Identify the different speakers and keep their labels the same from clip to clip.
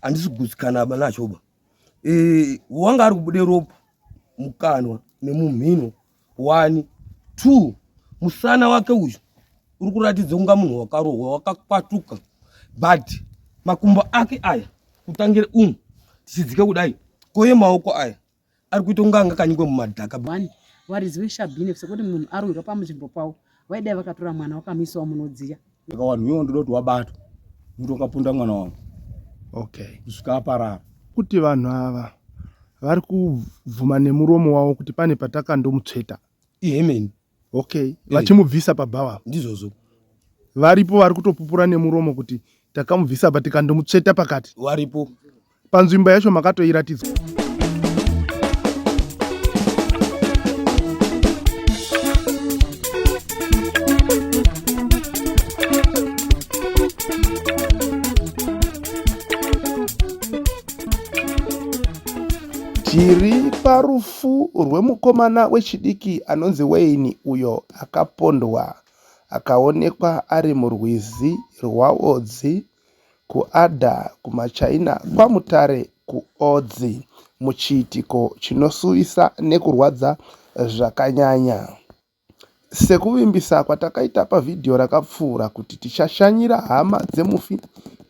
Speaker 1: handisi kugutsikana ba nachoba e, eh, wanga ari kubude ropa mukanwa nemumhino one two musana wake uyu uri kuratidza kunga munhu wakarohwa wakakwatuka but makumbo ake aya kutangire umu tichidzike kudai koye maoko aya ari kuita kunge anga kanyikwa mumadhaka one warizive
Speaker 2: shabhine sekuti munhu arwirwa pamunzvimbo pavo vaidai vakatora mwana wakamisawo munodziya saka wanhu iwo ndoda
Speaker 3: kuti wabatwa muti wakapunda mwana wangu okay kusvika aparara kuti vanhu
Speaker 4: ava vari kubvuma nemuromo wavo kuti pane patakandomutsveta ihemeni
Speaker 1: okay eh.
Speaker 4: vachimubvisa pabhawa ndizvozvo
Speaker 1: varipo
Speaker 4: vari kutopupura nemuromo kuti takamubvisa pa tikandomutsveta pakati varipo
Speaker 1: panzvimbo yacho
Speaker 4: makatoiratidzwa tiri parufu Rufu rwemukomana wechidiki anonzi Wayne uyo akapondwa akaonekwa ari murwizi rwaOdzi, kuAdda, kumaChina kwaMutare, kuOdzi, muchiitiko chinosuwisa nekurwadza zvakanyanya. Sekuvimbisa kwatakaita pavhidhiyo rakapfuura kuti tichashanyira hama dzemufi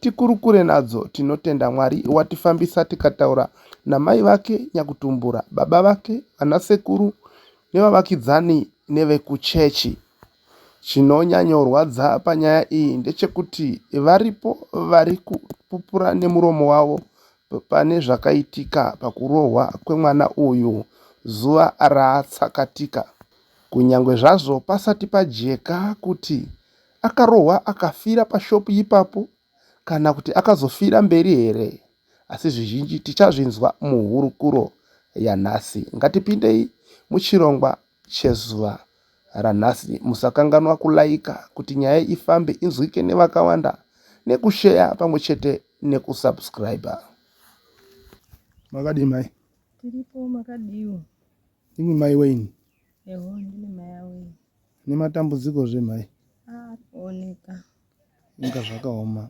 Speaker 4: tikurukure nadzo, tinotenda Mwari watifambisa tikataura namai vake nyakutumbura, baba vake, vanasekuru nevavakidzani nevekuchechi. Chinonyanyorwadza panyaya iyi ndechekuti varipo vari kupupura nemuromo wavo pane zvakaitika pakurohwa kwemwana uyu zuva ratsakatika kunyangwe zvazvo pasati pajeka kuti akarohwa akafira pashopu ipapo kana kuti akazofira mberi here asi zvizhinji tichazvinzwa muhurukuro yanhasi ngatipindei muchirongwa chezuva ranhasi musakanganwa kulaika kuti nyaya ifambe inzwike nevakawanda nekusheya pamwe chete nekusubscriber makadii mai tiripo
Speaker 5: makadiwo imi mai
Speaker 4: weini eho ndine
Speaker 5: mai aweni nematambudziko
Speaker 4: zve mai arikuoneka
Speaker 5: inga
Speaker 4: zvakaoma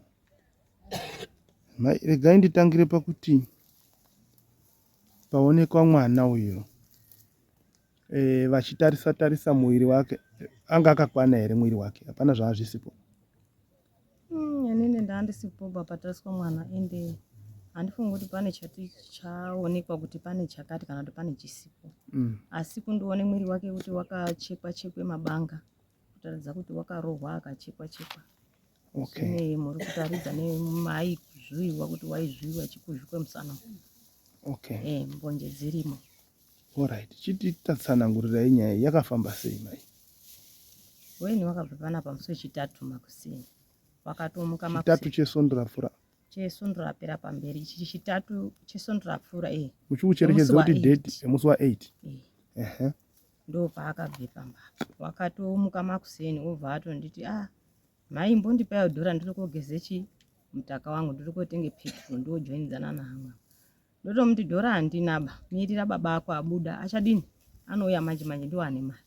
Speaker 4: mai regai nditangire pakuti paonekwa mwana uyo eh, vachitarisa tarisa muviri wake anga akakwana here muviri wake hapana zvaazvisipo hmm, inini
Speaker 5: ndaandisipo bapatariswa mwana ende handifungi kuti pane chati chaonekwa kuti pane chakati kana kuti pane chisipo mm. asi kundione mwiri wake kuti wakachekwa chekwe mabanga kutaridza kuti wakarohwa akachekwa chekwa okay. ne muri kutaridza nemai kuzviwiwa kuti waizviwiwa chikuzvi kwemusana okay. e, mbonje dzirimo orit
Speaker 4: chiti tatsanangurirai nyaya yakafamba sei mai
Speaker 5: weni wakabva pana pamusi wechitatu makuseni wakatomuka chitatu chesondo rapfura
Speaker 4: chesondo rapera
Speaker 5: pamberi ichi chitatu chesondo rapfura e muchikucherechedza kuti
Speaker 4: date yemusi wa8 e. uh -huh.
Speaker 5: ndopaakabvepa mbatya wakatomuka makuseni wobva atonditi a ah, mhai mbondipaiwo dhora ndiri kogeze chi mutaka wangu ndiri kotenge petro ndojoinidzana nahamwa ndotomuti dhora handinaba mirira baba ako abuda achadini anouya manje manje ndiwo ane mari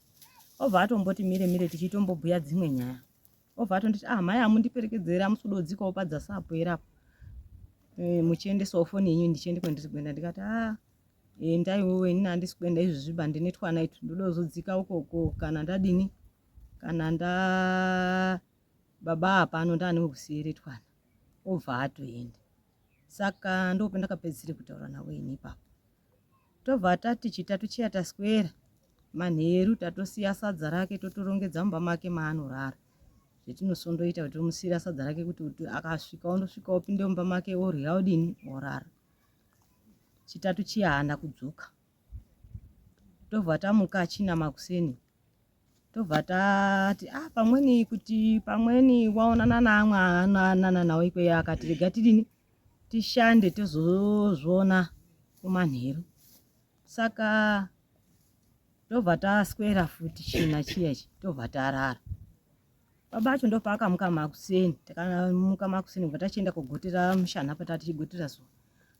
Speaker 5: obva atomboti mire mire tichitombobhuya dzimwe nyaya obva atonditi a ah, mhai hamundiperekedzere amusudodzikawo padzasapo erapo eh, muchiendesawo foni yenyu ndichiende kwendiri kuenda ndikati a ah, endai wewe ini handisi kuenda izvi zviba ndine twana itu ndodozodzika ukoko kana ndadini kana nda baba hapano ndaane wekusiire twana obva atoenda saka ndope ndakapedzisire kutaura navo ini ipapo tobva tati chitatu chiya taswera manheru tatosiya sadza rake totorongedza mumba make maanorara zvetinosondoita kuti tomusiira sadza rake kuti akasvika ondosvika opinde mumba make orya odini orara chitatu chiya haana kudzoka tobva tamuka achina makuseni tobva tati ah pamweni kuti pamweni waonana naamwe anoanana nawo ikweyo akati rega tidini tishande tozozviona kumanheru saka tobva taswera futi china chiya ichi tobva tarara Baba acho ndopaakamuka makuseni, takamuka makuseni kubva tachienda kogotera mushana apa tatichigotera zuva.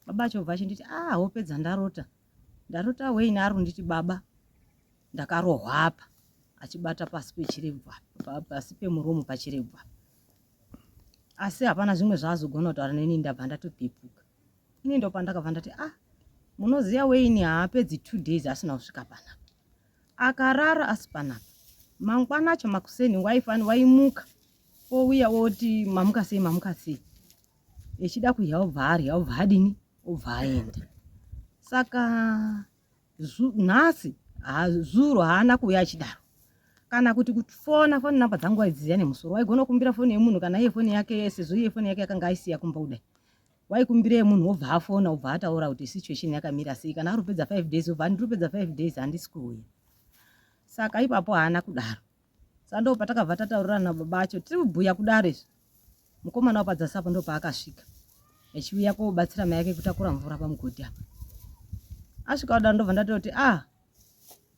Speaker 5: Baba acho bva achinditi ah hope dzandarota. Ndarota Wayne ari kunditi baba ndakarohwa apa achibata pasi pechirebwa pasi pemuromo pachirebwa. Asi hapana zvimwe zvaazogona kutaura neni ndabva ndatopepuka. Ini ndopandakabva ndati ah munoziva Wayne haapedzi two days asina kusvika panapa. akarara asi panapa mangwana acho makuseni waifani waimuka wouya woti mamuka sei mamuka sei echida kudya obva arya obva adini obva aenda saka nhasi zuro haana kuuya achidaro kana kuti kufona foni namba dzangu waidziziva nemusoro waigona kukumbira foni yemunhu kana iye foni yake sezvo iye foni yake yakanga aisiya kumba kudai waikumbirei munhu wobva afona obva ataura kuti situation yakamira sei kana ari kupedza five days obva andiri kupedza five days handisi kuuya saka ipapo haana kudaro sa ndo patakabva tataurirana nababa acho tiri kubhuya kudaro izvi mukomana wapadzasi apo ndo paakasvika echiuya kobatsira mai yake kutakura mvura pamugodhi apa asvika kudaro ndobva ndatoti a ah,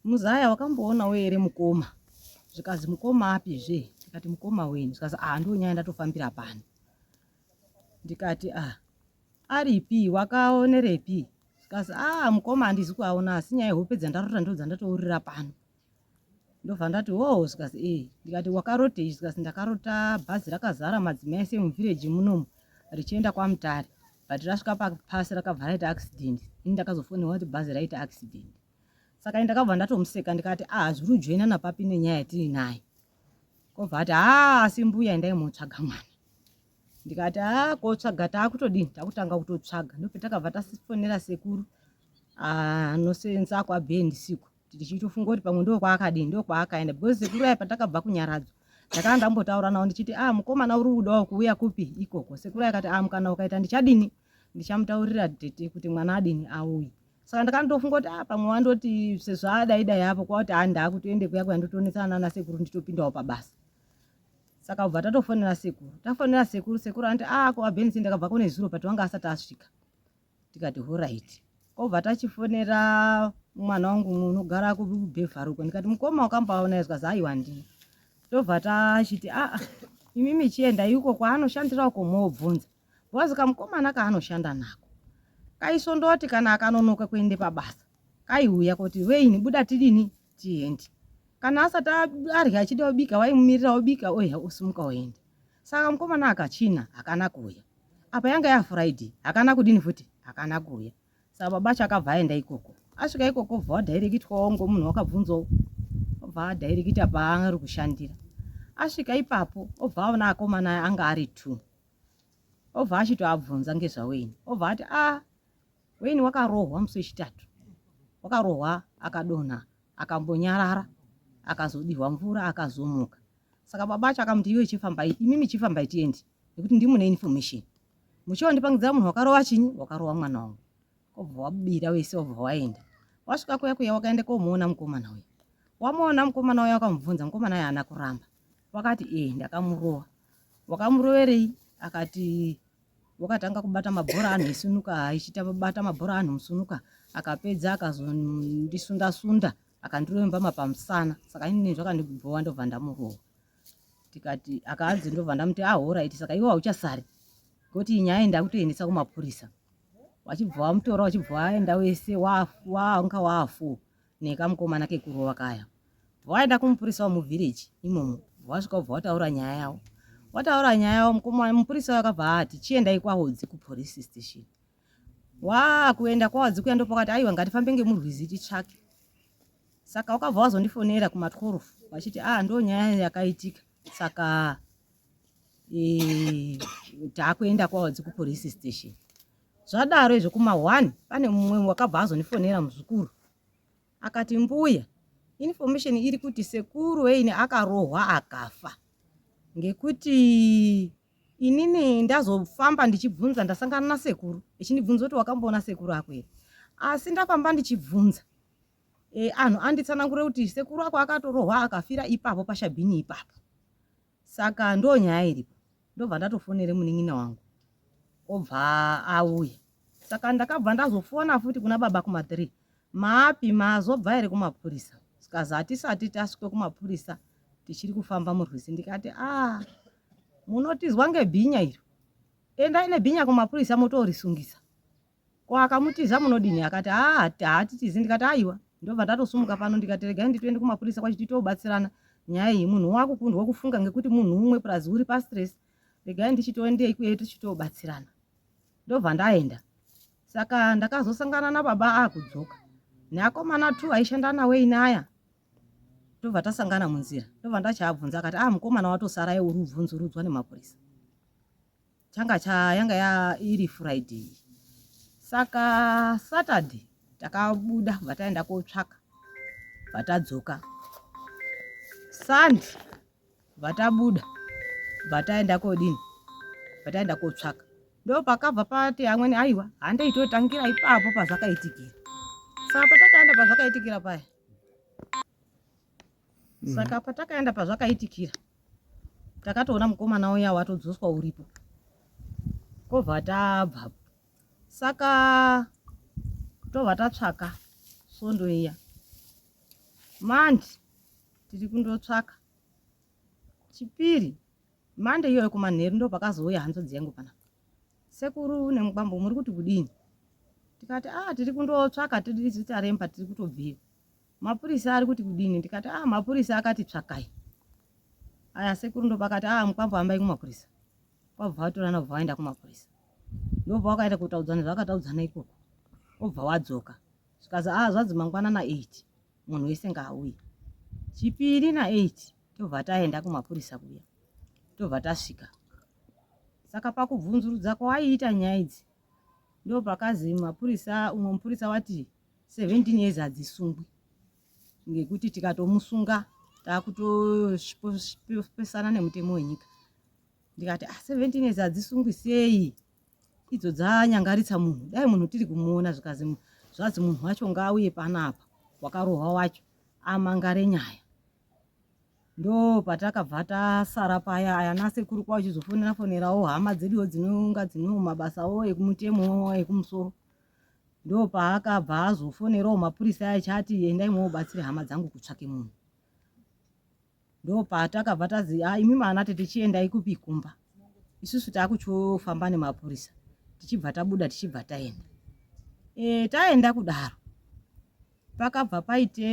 Speaker 5: muzaya wakamboonawo here mukoma zvikanzi mukoma api zve ndikati mukoma weni zvikanzi a ah, ndonyaya ndatofambira pano ndikati ah aripi wakaonerepi kasi ah mukoma handizi kuaona asi nyaya yehope dzandarota ndo dzandatourira pano ndobva ndati wo oh, zvikasi e eh. ndikati wakarotei zvikasi ndakarota bhazi rakazara madzimai ese muvhireji munomu richienda kwamutare but rasvika papasi rakabva raita accident ini ndakazofonewa kuti bhazi raita accident saka ini ndakabva ndatomuseka ndikati ah zviri ujoinana papi nenyaya yatiri nayo obva ati haa asi mbuya endai motsvaga mwana ndikati haa kotsvaga taakutodini takutanga kutotsvaga ndopetakabva tasifonera sekuru anosenza ah, kwabhee ndisiku tichitofunga kuti pamwe ndo kwaakadini ndo kwaakaenda because sekuru aya patakabva kunyaradzwa ndakanga ndambotaura nawo ndichiti ah mukomana uri kudawo kuuya kupi ikoko sekuru akati ah mukana ukaita ndichadini ndichamutaurira tete kuti mwana adini auye saka ndakandofunga kuti ah, pamwe wandoti sezvadai dai apo kwakuti haa ah, ndaakutoende kuya kuya ndotoonetsana nana sekuru nditopindawo pabasa saka ubva tatofonera sekuru tafonera sekuru sekuru anti a ah, ko abenisi ndakabva kune zuro but wanga asati asvika tikati horit kobva tachifonera mwana wangu unogara kubhevharuko ndikati mukoma wakambaona izwa zaiwa ndii tobva tachiti aa ah, imimi chienda iko kwaanoshandira uko moobvunza Boaz kamukomana kaanoshanda nako kaisondoti kana akanonoka kuende pabasa kaiuya koti veini buda tidini tiende kana asati arya achida obika waimumirira obika oya osimuka oenda saka mukomana akachina hakana kuuya apa yanga yafriday hakana kudini futi hakana kuuya saka baba acho akabva aenda ikoko asvika ikoko bva wadhairekitwawo ngomunhu wakabvunzawo obva adhairekita paari kushandira asvika ipapo obva aona akomana anga ari two obva achitoabvunza ngezvaweni obva ati a ah, weni wakarohwa musi wechitatu wakarohwa akadonha akambonyarara akazodihwa mvura akazomuka saka baba acho akamuti iwe chifambai imimi chifambai tiendi nekuti ndimune information muchiwa ndipangidzira munhu wakarova chinyi wakarova mwana wangu obva wabira wese obva waenda wasvika kuya kuya wakaenda komuona mukomana uya wamuona mukomana uya wakamubvunza mukomana uya ana kuramba wakati ee eh, ndakamurova wakamuroverei akati wakatanga kubata mabhora anhu esunuka aichita bata mabhora anhu musunuka akapedza akazondisunda sunda akandiremba mapamusana saka inini zvakandigubhowa ndobva ndamurowa tikati akaanzi ndobva ndamuti ahoraiti ah, saka iwe hauchasari ngoti nyaya iyi ndakutoendesa kumapurisa wachibva wamutora wachibva waenda wese waanga waafu nekamukomana kekurova kaya vaenda kumupurisa wemuvillage imomo vasvika ubva wataura nyaya yavo wataura nyaya yavo mukomana mupurisa wakabva ati chiendai kwahodzi kupolice station waa kuenda kwahodzi kuya ndopakati aiwa ngatifambe ngemurwizi titsvake saka wakabva wazondifonera kuma 12 vachiti ah ndo nyaya yakaitika saka e, eh, takuenda kwahodzi kupolice station Zvadaro izvo kuma one pane mumwe wakabva azonifonera muzukuru akati mbuya information iri kuti sekuru weini akarohwa akafa ngekuti inini ndazofamba ndichibvunza ndasangana nasekuru echindibvunza kuti wakamboona sekuru ako here asi ndafamba ndichibvunza e, anhu anditsanangure kuti sekuru ako akatorohwa akafira ipapo pashabhini ipapo Saka ndoo nyaya iripo. Ndobva ndatofonera munin'ina wangu obva auya. Saka ndakabva ndazofona futi kuna baba kuma 3. Maapi mazobva here kumapurisa? Zikazi hatisati tasvika kumapurisa tichiri kufamba murwizi ndikati ah munotizwa ngebhinya iro. Endai nebhinya kumapurisa motorisungisa. Ko akamutiza munodini akati haa haatitizi ndikati aiwa ndobva ndatosumuka pano ndikati regai nditoende kumapurisa kwachiti toobatsirana nyaya iyi munhu wakukundwa kufunga ngekuti munhu umwe plus uri pastress regai ndichitoendei kuye tichitoobatsirana ndobva ndaenda saka ndakazosangana nababa akudzoka neakomana t aishanda nawo inaya tobva tasangana munzira tobva ndachaabvunza akati ah mukomana watosara ye uri ubvunzurudzwa nemapurisa changa cha yanga ya iri friday saka saturday takabuda kubva taenda kotsvaka vatadzoka sunday vatabuda vataenda kodini vataenda kotsvaka ndo pakabva pati amweni aiwa handaitotangira ipapo pazvakaitikira saka patakaenda pazvakaitikira paya mm. saka patakaenda pazvakaitikira takatoona mukomana uya watodzoswa uripo kobva tabva saka tobva tatsvaka svondo iya mandi tiri kundotsvaka chipiri mande iyoyo kumanheru ndo pakazouya hanzodzi yangu pana sekuru nemukwambo muri kuti kudini tikati a ah, tiri kundotsvaka tiri zitaremba tiri kutobvira mapurisa ari kuti kudini ndikati ah mapurisa akati tsvakai aya sekuru ndopakati ah mukwambo hambai kumapurisa kwabva vatorana kubva vaenda kumapurisa ndobva wakaenda kutaudzana zvakataudzana ikoko obva wadzoka zvikazi ah zvanzi mangwana na eight munhu wese ngaauye chipiri na eight tobva taenda kumapurisa kuya tobva tasvika saka pakubvunzurudza kwaiita nyaya idzi ndopakazi mapurisa umwe mupurisa wati 17 years hadzisungwi ngekuti tikatomusunga taakutopesana nemutemo wenyika ndikati ah, 17 years hadzisungwi sei idzo dzanyangaritsa munhu dai munhu tiri kumuona zvikazi zvazi munhu wacho ngaauye panapa wakarohwa wacho amangare nyaya ndo patakabva tasara paya aya nasekuru kwa uchizofonera fonerawo hama dzeduwo dzinonga dzino mabasa wo ekumutemo ekumusoro ndo paakabva azofonerawo mapurisa aya chati endai mwobatsira hama dzangu kutsvake munhu ndo patakabva tazi ah, imi maana tete chiendai kupi kumba isusu takuchofamba nemapurisa tichibva tabuda tichibva taenda e, taenda kudaro pakabva paite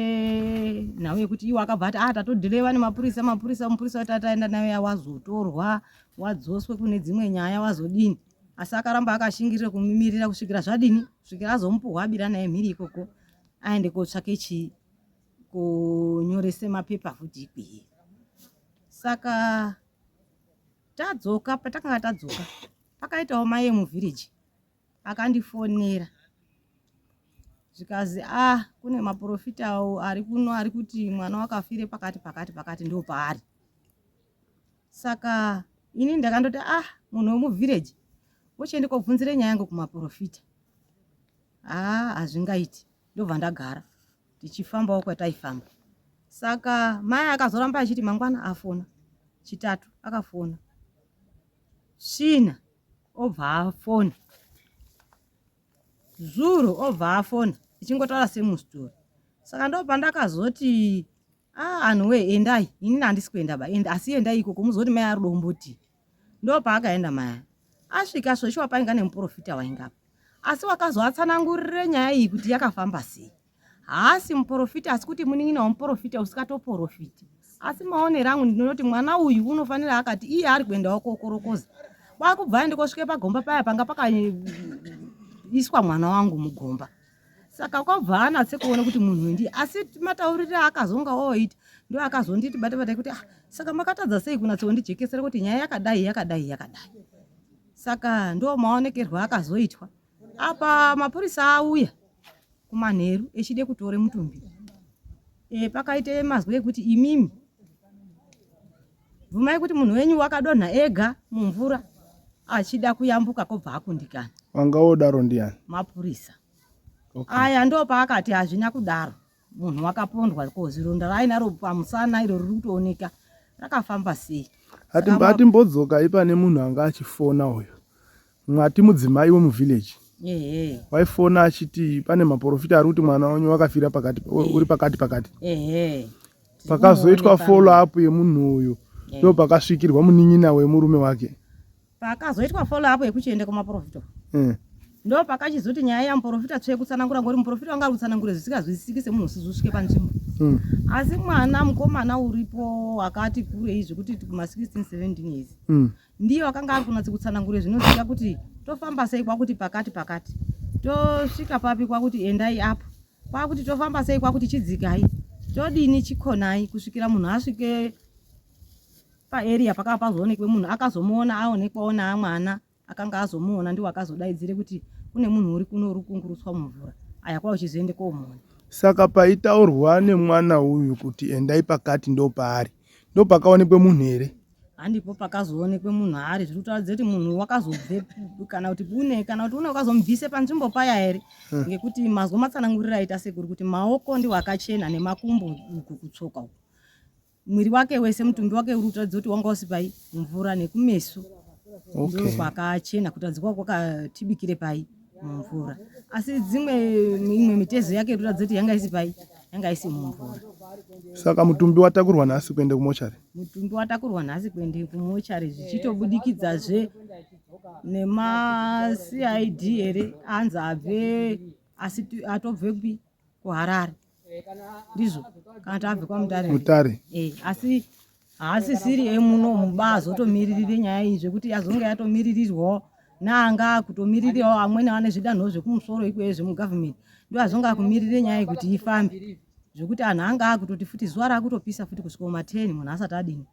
Speaker 5: nhau yekuti iwo akabva ati ah tatodhireva nemapurisa mapurisa mupurisa wati ataenda nayo yawazotorwa wadzoswe kune dzimwe nyaya wazodini asi akaramba akashingirira kumimirira kusvikira zvadini kusvikira azomupuhwa abira naye mhiri ikoko aende kotsvake chii kunyorese mapepa futi ikwiye saka tadzoka patakanga tadzoka pakaitawo maye muvhiriji akandifonera zvikazi ah kune maprofita awo ari kuno ari kuti mwana wakafire pakati pakati pakati ndo paari saka ini ndakandoti ah munhu wemuvhireji wochiende kobvunzire nyaya yangu kumaprofita haa ah, hazvingaiti ndobva ndagara tichifambawo kwataifamba saka mai akazoramba achiti mangwana afona chitatu akafona svina obva afona zuro obva afona ichingotaura semustori saka ndo pandakazoti a ah, anhu wee endai inini handisi kuenda ba and asi endai ikoko muzoti mai ari domboti ndo paakaenda maya asvika zveshuwa painga nemuprofita waingapa asi wakazoatsanangurire nyaya iyi kuti yakafamba sei haasi muporofita asi kuti munin'ina wemuporofita usikatoporofiti asi maonero angu ndinoti mwana uyu unofanira akati iye ari kuendawo kokorokoza kwakubva aende kosvike pagomba paya panga pakaiswa mwana wangu mugomba saka kwabva anatse kuona kuti munhu ndi asi mataurire akazonga oita ndo akazonditi bata bata kuti ah, saka makatadza sei kunatse kundijekesera kuti nyaya yakadai yakadai yakadai saka ndo maonekerwo akazoitwa apa mapurisa auya kumanheru echide kutore mutumbi e, pakaite mazwi ekuti imimi bvumai kuti munhu wenyu wakadonha ega mumvura achida kuyambuka kobva akundikana vanga wodaro
Speaker 4: ndiani mapurisa
Speaker 5: okay. aya ndo paakati hazvina kudaro munhu wakapondwa ko zironda raainaro pamusana iro riri kutooneka rakafamba sei
Speaker 4: atimbodzokai pane munhu anga achifona uyo mwati mudzimai wemuvillage waifona achiti pane maporofita ari kuti mwana wenyu wakafira pakati uri pakati pakati pakazoitwa follow up yemunhu uyu ndo pakasvikirwa munin'ina wemurume wake Pakazoitwa
Speaker 5: follow up yekuchienda kumaporofita mm. ndo pakachizoti nyaya yamuporofita tsve kutsanangura ngori muporofita wanga ari kutsanangura zvisikazwisisiki semunhu usizi usvike panzvimbo mm. asi mwana mukomana uripo wakati kurei zvekuti ma 16 17 years mm. ndiye wakanga ari kunatsi kutsanangura zvinozika kuti tofamba sei kwakuti pakati pakati tosvika papi kwakuti endai apo kwakuti tofamba sei kwakuti chidzikai todini chikonai kusvikira munhu asvike paeria pakava pazoonekwe munhu akazomuona aonekwawo naamwana akanga azomuona ndiwo akazodaidzire kuti kune munhu uri kuno uri kungurutswa mumvura aya kwava uchizoende komuona saka
Speaker 4: paitaurwa nemwana uyu kuti endai pakati ndo paari ndo pakaonekwe munhu here handipo
Speaker 5: pakazoonekwe munhu ari zviri kutaura dzeti munhu wakazobve kana kuti une kana kuti une wakazomubvise panzvimbo paya here hmm. ngekuti mazwa matsanangurira aita sekuri kuti maoko ndiwo akachena nemakumbo uku kutsoka uku mwiri wake wese mutumbi wake uri kutaridza kuti wanga usipai mvura nekumeso okay. ndo kwakachena kutaridza kwa kwakatibikire pai mumvura asi dzimwe imwe mitezo yake iri kutaridza kuti yanga isi pai yanga isi mumvura saka
Speaker 4: mutumbi watakurwa nhasi kuende kumochari mutumbi watakurwa
Speaker 5: nhasi kuende kumochari zvichitobudikidzazve nemacid here anzi abve asi atobve kupi kuharare ndizvo kana tabve kwamutare mutare eh, asi haasisiri emuno muba azotomiririre nyaya iyi zvekuti yazonge yatomiririrwawo naanga kutomiririrawo amweni ane zvidanho zvekumusoro ikweyo zvemugovernment ndo azonge akumirire nyaya yekuti ifambe zvekuti anhu anga akutoti futi zuva rakutopisa futi kusvika mateni munhu asati adini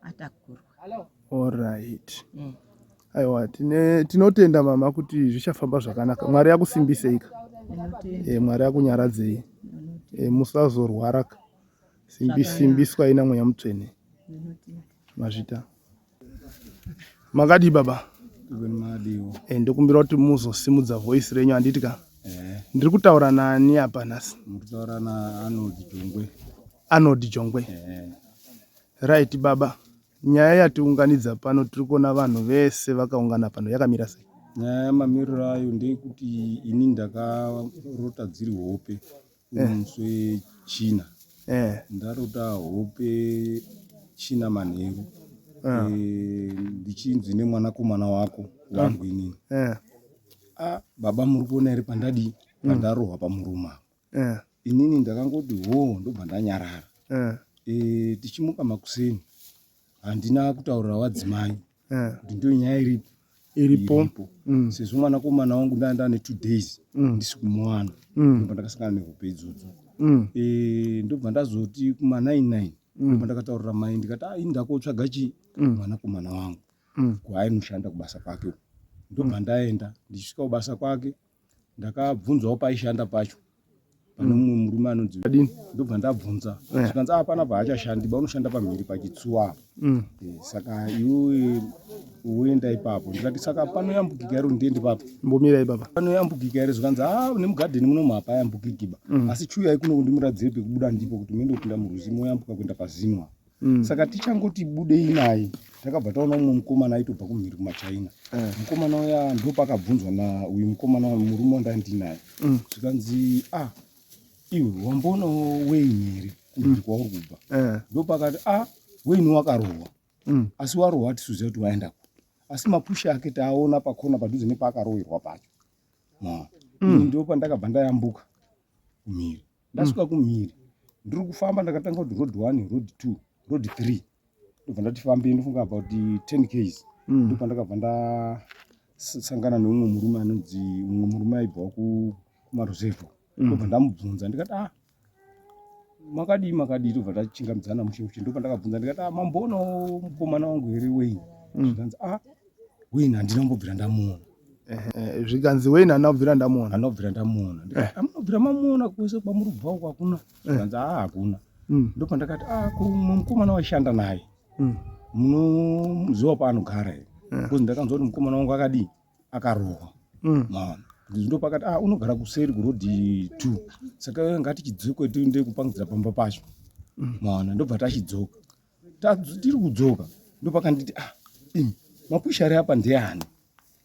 Speaker 5: atakurwa orit
Speaker 4: mm. aiwa tinotenda mama kuti zvichafamba zvakanaka mwari akusimbiseika e, eh, mwari akunyaradzei e, eh, musazorwaraka simbiswa ina mweya mutsvene mazvita makadii baba e, ndokumbira kuti muzosimudza voice renyu handiti ka ndiri kutaura nani apa nhasi mukutaura naanold
Speaker 3: jongwe Arnold Jongwe.
Speaker 4: Right baba, nyaya yatiunganidza pano tiri kuona vanhu vese vakaungana pano yakamira sei? Nyaya yamamiriro
Speaker 3: ayo ndeyekuti ini ndakarota dziri hope uri eh. musi wechina eh. ndarota hope china manheru ah. eh, ndichinzi nemwanakomana wako wabwinini ah. ah, baba muri kuona here pandadii hmm. pandarohwa pamurume apo eh. inini ndakangoti hoo ndobva ndanyarara eh. eh, tichimuka makuseni handina kutaurira wadzimai eh. kuti ndo nyaya iripo iripo mm. sezvo mwana komana wangu ndaa ndane two days mm. ndisi kumwana mm. ndobva ndakasangana nehope idzodzo mm. eh, ndobva ndazoti kuma nine nine mm. ndobva ndakataurira mai ndikati ah, ini ndakotsvaga chii mm. mwana komana wangu mm. kwaainoshanda kubasa kwake uku ndobva mm. ndaenda ndichisvika kubasa kwake ndakabvunzawo paishanda pacho pane mm. mumwe murume anonzi adini ndobva ndabvunza eh. zvikanzi a ah, pana paachashandi ba unoshanda pamhiri pachitsuwa apo mm. eh, saka iwe woenda ipapo ndikati saka panoyambukika iro ndiende papo mbomira ipapa
Speaker 4: panoyambukika iro zvikanzi
Speaker 3: a ah, nemugadheni munomu hapayambukiki ba mm. asi chuyai kuno kundimuradzi pekubuda ndipo kuti muende kupinda murwizi moyambuka kuenda pazinwa mm. saka tichangoti budei naye takabva taona umwe mukomana aitobva kumhiri kumachina eh. mukomana uya ndo pakabvunzwa na uyu mukomana murume wandandinaye mm. zvikanzi a ah, iwe wamboonawo weini here kumhiri mm. kwauri kubva eh. ndo pakati a ah, weini wakarohwa mm. asi warohwa atisuziva kuti waenda ku asi mapusha ake taaona pakona padhuze nepaakarohwerwa pacho ndo pandakabva ndayambuka kumhiri ndasvika kumhiri ndiri kufamba ndakatanga kuti road one road two road three ndobva ndatifambei ndofunga about 10 ks mm. ndobva ndakabva ndasangana neumwe murume anonzi umwe murume aibva kumaruzevho mm. ndobva ndamubvunza ndikati ah makadii makadii tobva tachingamidzana mushe mushe ndopa ndakabvunza ndikati ah mamboona mukomana wangu here wei mm. zvikanzi ah Wayne handina kumbobvira ndamuona. Eh, zvikanzi
Speaker 4: Wayne handina kubvira ndamuona. Handina kubvira ndamuona.
Speaker 3: Eh. Amunobvira mamuona kwese kwamuri kubva uko hakuna. Eh. Zvikanzi ah hakuna. Mm. Ndipo ndakati ah mukomana waishanda naye. Mm. Munoziva paanogara here? Eh. Kuzi ndakanzwa kuti mukomana wangu akadii? Akarohwa. Mm. Maona ndopakati ah unogara kuseri kuroad two saka ngatichidzoke tiende kupangidzira pamba pacho mm. maona ndobva tachidzoka tiri kudzoka ndopakanditi ah imi mapusha ari apa ndeani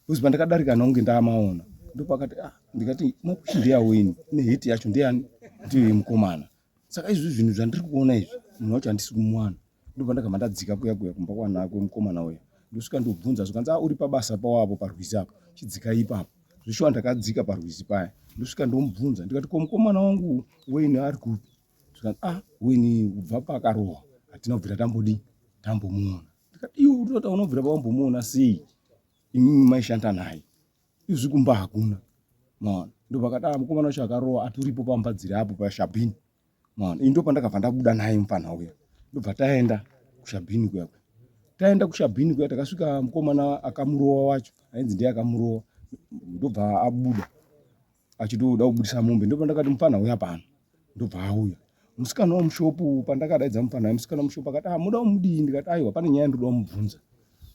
Speaker 3: bcause pandakadarika naunge ndaamaona ndopakati ah ndikati mapusha ndeyawo ini ne heti yacho ndeani ndiyo yemukomana saka izvi zvinhu zvandiri kuona izvi munhu wacho handisi kumwana ndopandakabva ndadzika kuya kuya kumba kwanakwe mukomana uya ndosvika ndobvunza zvikanzi a ah, uri pabasa pawapo parwizi apo chidzika ipapo zveshuwa ndakadzika parwizi paya ndosvika ndomubvunza ndikati ko mukomana wangu weini ari kupi tikati ah wini kubva pakarohwa hatina kubvira tambodii tambomuona ndikati iwe utotaura unobvira pawambomuona sei imimi maishanda naye izvi kumba hakuna maona ndopakati ah mukomana wacho akarohwa aturipo pamba dziri apo pashabhini maona ini ndopandakabva ndabuda naye mupfanha uya ndobva taenda kushabhini kuya taenda kushabhini kuya takasvika mukomana akamurowa wacho ainzi ndiye akamurowa ndobva abuda achitoda kubudisa mombe ndopa ndakati mupfanha uya pano ndobva auya musikana wamushopu pandakadaidza mupfanha uya musikana wamushopu akati ah muda umudii ndikati aiwa pane nyaya ndoda umubvunza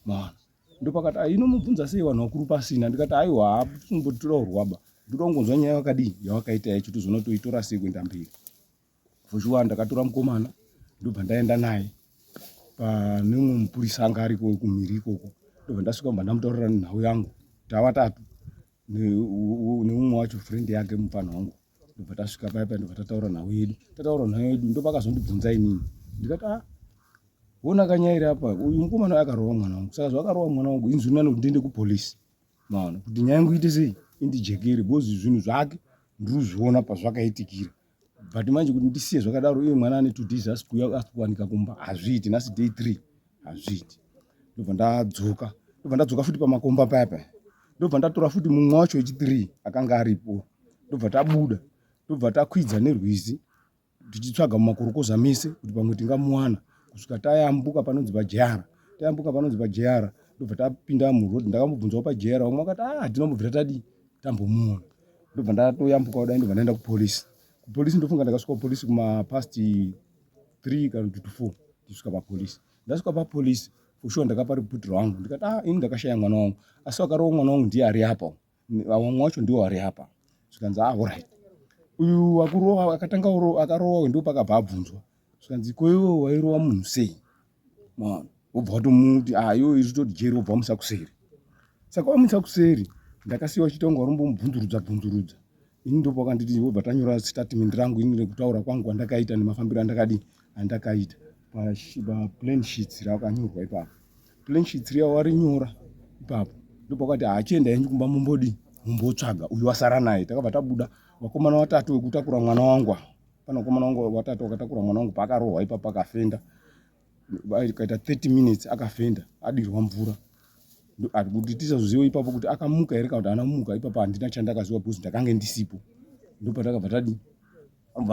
Speaker 3: maona ndopakati ah, inomubvunza sei vanhu vakuru pasina ndikati aiwa hapumbotitoda urwaba ndoda kungonzwa nyaya yakadii yawakaita yacho tozoona toitora sei kuenda mberi for sure ndakatora mukomana ndobva ndaenda naye pane umwe mupurisa anga ariko kumhiri ikoko ndobva ndasvika bva ndamutaurira nhau yangu tava tatu neumwe wacho friend yake mupfanha wangu ndobva tasvika paya paya ndobva tataura nhau yedu tataura nhau yedu ndopakazondibvunza inini ndikati a ah, wona kanyairi apa uyu mukomana akarova mwana wangu saka zvakarova mwana wangu inzwi nani kuti ndiende kupolisi maona kuti nyaya yangu ite sei indijekere bcoz zvinhu zvake ndiri kuzviona pazvakaitikira but manje kuti ndisiye zvakadaro uye mwana ane two days asi kuuya asi kuwanika kumba hazviiti nhasi day three hazviiti ndobva ndadzoka ndobva ndadzoka futi pamakomba paya paya ndobva ndatora futi mumwe wacho wechithree akanga aripo ndobva tabuda ndobva takwidza nerwizi tichitsvaga mumakorokoza mese kuti pamwe tingamuwana kusvika tayambuka panonzi pajeyara tayambuka panonzi pajeyara ndobva tapinda muroad ndakamubvunzawo pajeyara vamwe vakati a ah, hatina mubvira tadii tambomuona ndobva ndatoyambuka kudai ndobva ndaenda kupolice kupolice ndofunga ndakasvika kupolice kumapast three kana kuti to four ndisvika papolice ndasvika papolice fushuwa ndakapa report rangu ndikati ah ini ndakashaya mwana wangu asi vakarova mwana wangu ndiye ari apa vamwe wacho ndiwo ari apa zvikanzi ah orit uyu wakurova akatanga akarowa ndo pakabva abvunzwa zvikanzi koiwo wairova munhu sei mwana wobva watomuti ah iwe iri toti jeri wobva wamusa kuseri saka wamusa kuseri ndakasiya wachiita kunge warimbomubvunzurudza bvunzurudza ini ndopa wakanditi wobva tanyora statement rangu ini rekutaura kwangu kwandakaita nemafambiro andakadii andakaita paplan sheets rakanyorwa ipapo plan sheets riya warinyora ipapo ndopa wakati hachienda yenyu kumba mumbodii mumbotsvaga uyu wasara naye takabva tabuda wakomana watatu wekutakura mwana wangu pane mukomana wangu watatu wakatakura mwana wangu paakarohwa ipapo akafenda kaita 30 minutes akafenda adirwa mvura kuti tisazoziva ipapo kuti akamuka here kana kuti ana muka ipapo handina chandakaziva because ndakange ndisipo ndopatakabva tadi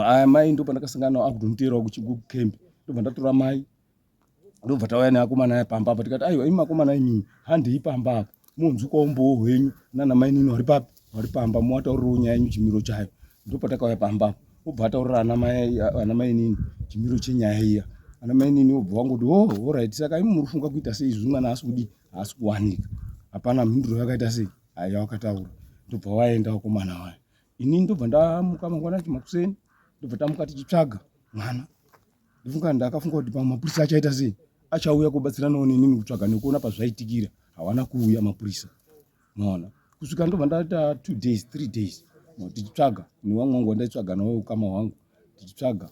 Speaker 3: aya mai ndopandakasangana nao akutomuteerawo kucamp ndobva ndatora mai ndobva tauya neakomana aya pamba apa tikati aiwa imi makomana imimi handei pamba apa monzwikawo umbowo hwenyu nana mainini wari papi wari pamba mowataurirawo nyaya yenyu chimiro chayo ndopatakauya pamba apa obva ataurira ana mainini chimiro chenyaya iya ana mainini obva wangoti o oh, orit saka imi muri funga kuita sei izvi mwana asi kudii haasi kuwanika hapana mhinduro yakaita sei haya wakataura ndobva waenda wakomana waya inini ndobva ndamuka mangwana chimakuseni ndobva tamuka tichitsvaga mwana ndifunga ndakafunga kuti pamwe mapurisa achaita sei achauya kubatsiranawo nenini kutsvaga nekuona pazvaitikira hawana kuuya mapurisa maona kusvika ndobva ndaita two days three days tichitsvaga newamwe wangu wandaitsvaga nawo ukama hwangu tichitsvaga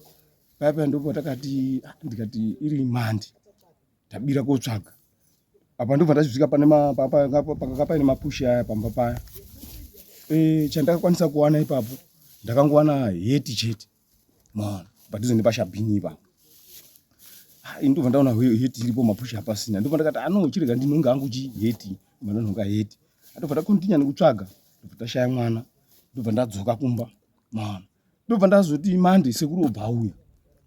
Speaker 3: paya paya ndobva takati ah, ndikati iri mandi tabira kotsvaga apa ndobva ndazvisvika panepakanga paine mapushi aya pamba paya eh, chandakakwanisa kuwana ipapo ndakangowana heti chete maona padhuze nepashabhini ipa ah, ini ndobva ndaona heti iripo mapusha apasina ndobva ndakati ano ah, chirega ndinhonga angu chi heti ndobva ndanhonga heti atobva takontinya nekutsvaga ndobva tashaya mwana ndobva ndadzoka kumba maona ndobva ndazoti mande sekuru obva auya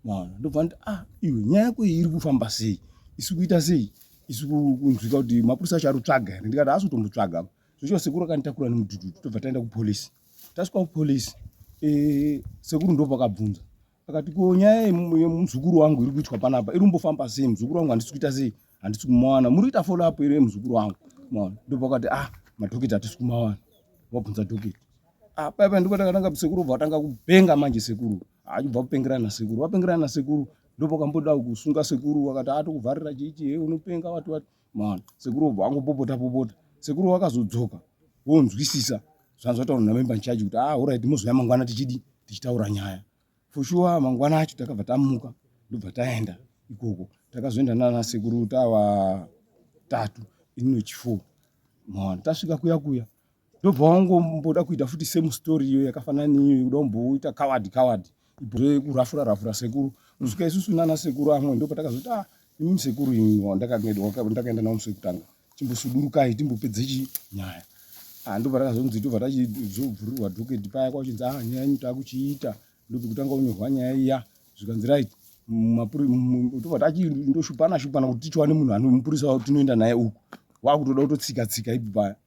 Speaker 3: maona ndobva ndati ah iwe nyaya yako iyi iri kufamba sei isi kuita sei isi kunzwika kuti mapurisa acho ari kutsvaga here ndikati haasi kutombotsvaga zvochiva sekuru akanditakura nemudududu tobva taenda kupolisi tasvika kupolice eh, sekuru ndo pakabvunza akati ko nyaya yemuzukuru wangu iri kuitwa panapa iri kumbofamba sei muzukuru wangu handisi kuita sei handisi kumawana muri kuita follow up iri yemuzukuru wangu maona ndo pakati ah madhokita hatisi kumawana wabvunza dhokita ah paipa ndipo takatanga sekuru bva vatanga kupenga manje sekuru achibva ah, kupengerana nasekuru vapengerana nasekuru ndopakamboda kusunga sekuru wakati atokuvharira chichi he unopenga wati wati Maona sekuru obva angopopota popota. Sekuru vakazodzoka vonzwisisa zvanzi vataura namemba nchaji kuti ah orit mozouya mangwana tichidi tichitaura nyaya for sure mangwana acho takabva tamuka ndobva taenda ikoko takazoenda nana sekuru tava tatu ininochifo maona tasvika kuya kuya ndobva wangomboda kuita futi same story iyo yakafanana neiyo yekuda kumboita coward coward kurafura rafura sekuru kusvika isusu nana sekuru amwe ndo patakazoti ah imimi sekuru imi wandakaenda navo musi wekutanga chimbosudurukai timbopedze chi nyaya ah ndobva takazonzi tobva tachizovhurirwa doketi paya kwachinzi ah nyaya yenyu takuchiita ndopekutanga unyorwa nyaya iya zvikanzi right tobva tachindoshupanashupana kuti tichiwane munhu anomupurisa tinoenda naye uku wakutoda kutotsika tsika ipi paya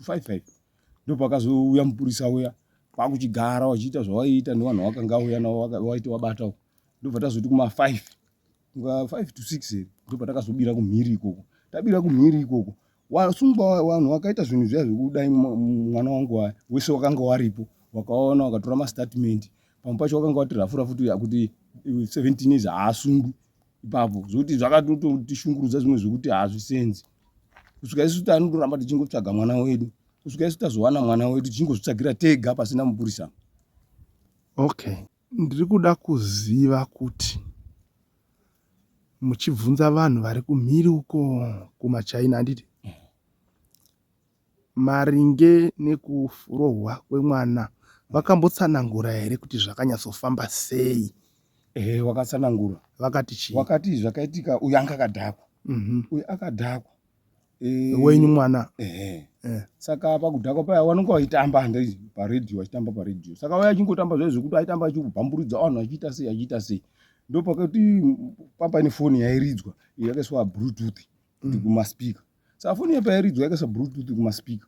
Speaker 3: five five ndopakazouya mupurisa uya kwakuchigara wachiita zvawaiita nevanhu wakanga uya navo waiti wabatawo ndobva tazoti kuma five nga five to six here ndobva takazobira kumhiri ikoko tabira kumhiri ikoko wasungwa vanhu wakaita zvinhu zviya zvekudai mwana wangu waya wese wakanga waripo wakaona wakatora mastatement pamwe pacho wakanga wati rafu rafu tuya kuti seventeen years haasungwi ipapo zvokuti zvakatotishungurudza zvimwe zvekuti hazvisenzi kusvika isu tanoramba tichingotsvaga mwana wedu kusvika isu tazowana mwana wedu tichingozvitsvagira tega pasina mupurisa
Speaker 4: okay ndiri kuda kuziva kuti muchibvunza vanhu vari kumhiri uko kumachina handiti Maringe nekurohwa kwemwana vakambotsanangura here kuti zvakanyatsofamba sei? Ehe wakatsanangura.
Speaker 3: Vakati chii?
Speaker 4: Wakati zvakaitika
Speaker 3: uyu anga akadhakwa. Mhm. Uyu akadhakwa. Eh,
Speaker 4: Wenyu mwana. Ehe. Eh. Saka
Speaker 3: pakudhakwa paya vanonga vachitamba handei paredhiyo vachitamba paredhiyo. Saka waya achingotamba zvaizvo zvekuti aitamba achibhamburudza vanhu achiita sei achiita sei. Ndopakati pamba ine foni yairidzwa yakaiswa bluetooth kuti kumaspika. saka foni iyo pairidzwa yakaisa bluetooth kumaspeaker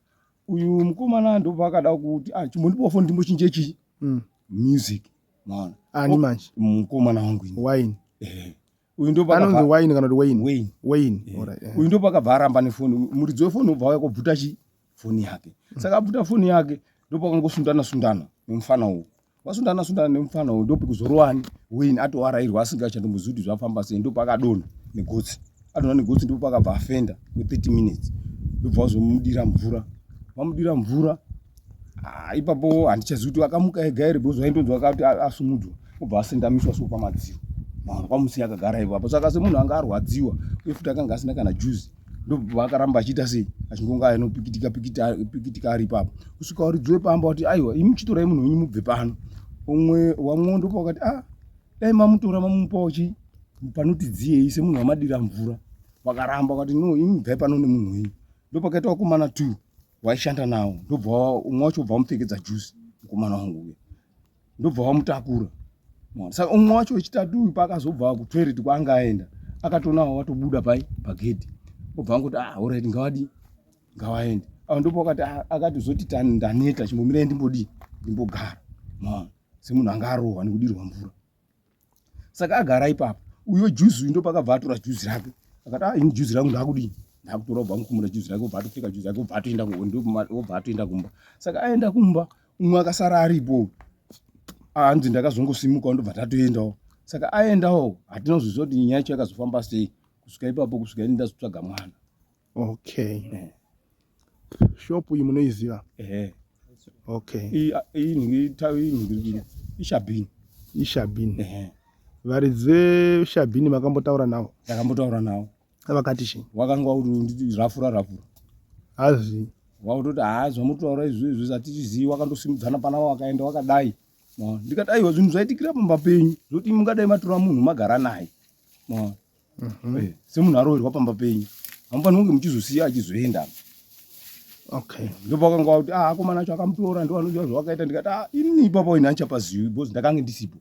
Speaker 3: uyu mukomana ndopaakada kuti ah, chimbondipawo foni ndimbochinje chii mm. music maona ani oh, manje
Speaker 4: mukomana wangu wine
Speaker 3: eh.
Speaker 4: uyu
Speaker 3: ndoanonzi wine kana kuti wayne
Speaker 4: wayne wayne eh. right, yeah. uyu ndopakabva
Speaker 3: aramba nefoni muridzi wefoni ubva waya kobvuta chi foni yake mm. saka abvuta foni yake ndopakangosundana sundana nemufana uwu vasundana sundana nemufana uyu ndopi kuzorowani win atovarairwa asinga chandomuzivi kuti zvafamba sei ndopa akadonha negotsi adonha negotsi ndopa akabva afenda we 30 minutes ndobva vazomudira mvura vamudira mvura ah, ipapo handichazivi kuti akamuka ega here because vaindonzwa kati asumudwa obva asendamiswa so pamadziro mava pamusi akagara ivo apa saka semunhu anga arwadziwa uye futi akanga asina kana juzi ndobva akaramba achiita sei achingonga anopikitika pikitika pikitika ari ipapo kusvika uridzwe pamba wati aiwa imi chitorai munhu wenyu mubve pano umwe wamwe ndopa wakati ah dai mamutora mamupawo chii panoti dziyei semunhu wamadira mvura wakaramba wakati no imi bvai pano nemunhu wenyu ndopakaita wakomana two waishanda nawo ndobva umwe wacho bva wamupfekedza juzi mukomana wangu uya ndobva wamutakura saka umwe wacho wechitatu uyu paakazobva kutoilet kwaanga aenda akatonawo watobuda pai pagedhi obva angoti ah orit ngawadi ngawaende ava ndipo akati ah, akatizoti ndaneta chimbomirai ndimbodii ndimbogara maona semunhu anga arohwa nekudirwa mvura saka agara ipapo uyo juzi uyu ndopakabva atora juzi rake akati ah, ini juzi rangu ndakudii ndakutora ubva mukumura juzi rake ubva atopfeka juzi rake ubva atoenda ubva atoenda kumba saka aenda kumba umwe akasara aripo hanzi ndakazongosimukawo ndobva tatoendawo saka aendawo hatina kuzoziva kuti nyaya yacho yakazofamba sei kusvika ipapo kusvika ini ndazotsvaga mwana okay
Speaker 4: eh. shop iyi munoiziva eh. okay ishabhini ishabhini eh. varidzi veshabhini makambotaura navo ndakambotaura navo
Speaker 3: vakati chii
Speaker 4: wakanga wakuti
Speaker 3: rafura rafura hazi
Speaker 4: wakutoti
Speaker 3: haa zvamutotaura izvi izvi zvatichizivi wakandosimudzana pana wakaenda wakadai ndikati aiwa zvinhu zvaitikira pamba penyu zvokuti mungadai matora munhu magara naye Mhm. Eh, semunhu aroverwa pamba penyu hamufaniri kunge muchizosiya achizoenda
Speaker 4: okay ndopakanga kuti
Speaker 3: ah akomana acho akamutora ndo anoziva zvawakaita ndikati ah ini ipapa wena andichapazivi because ndakange ndisipo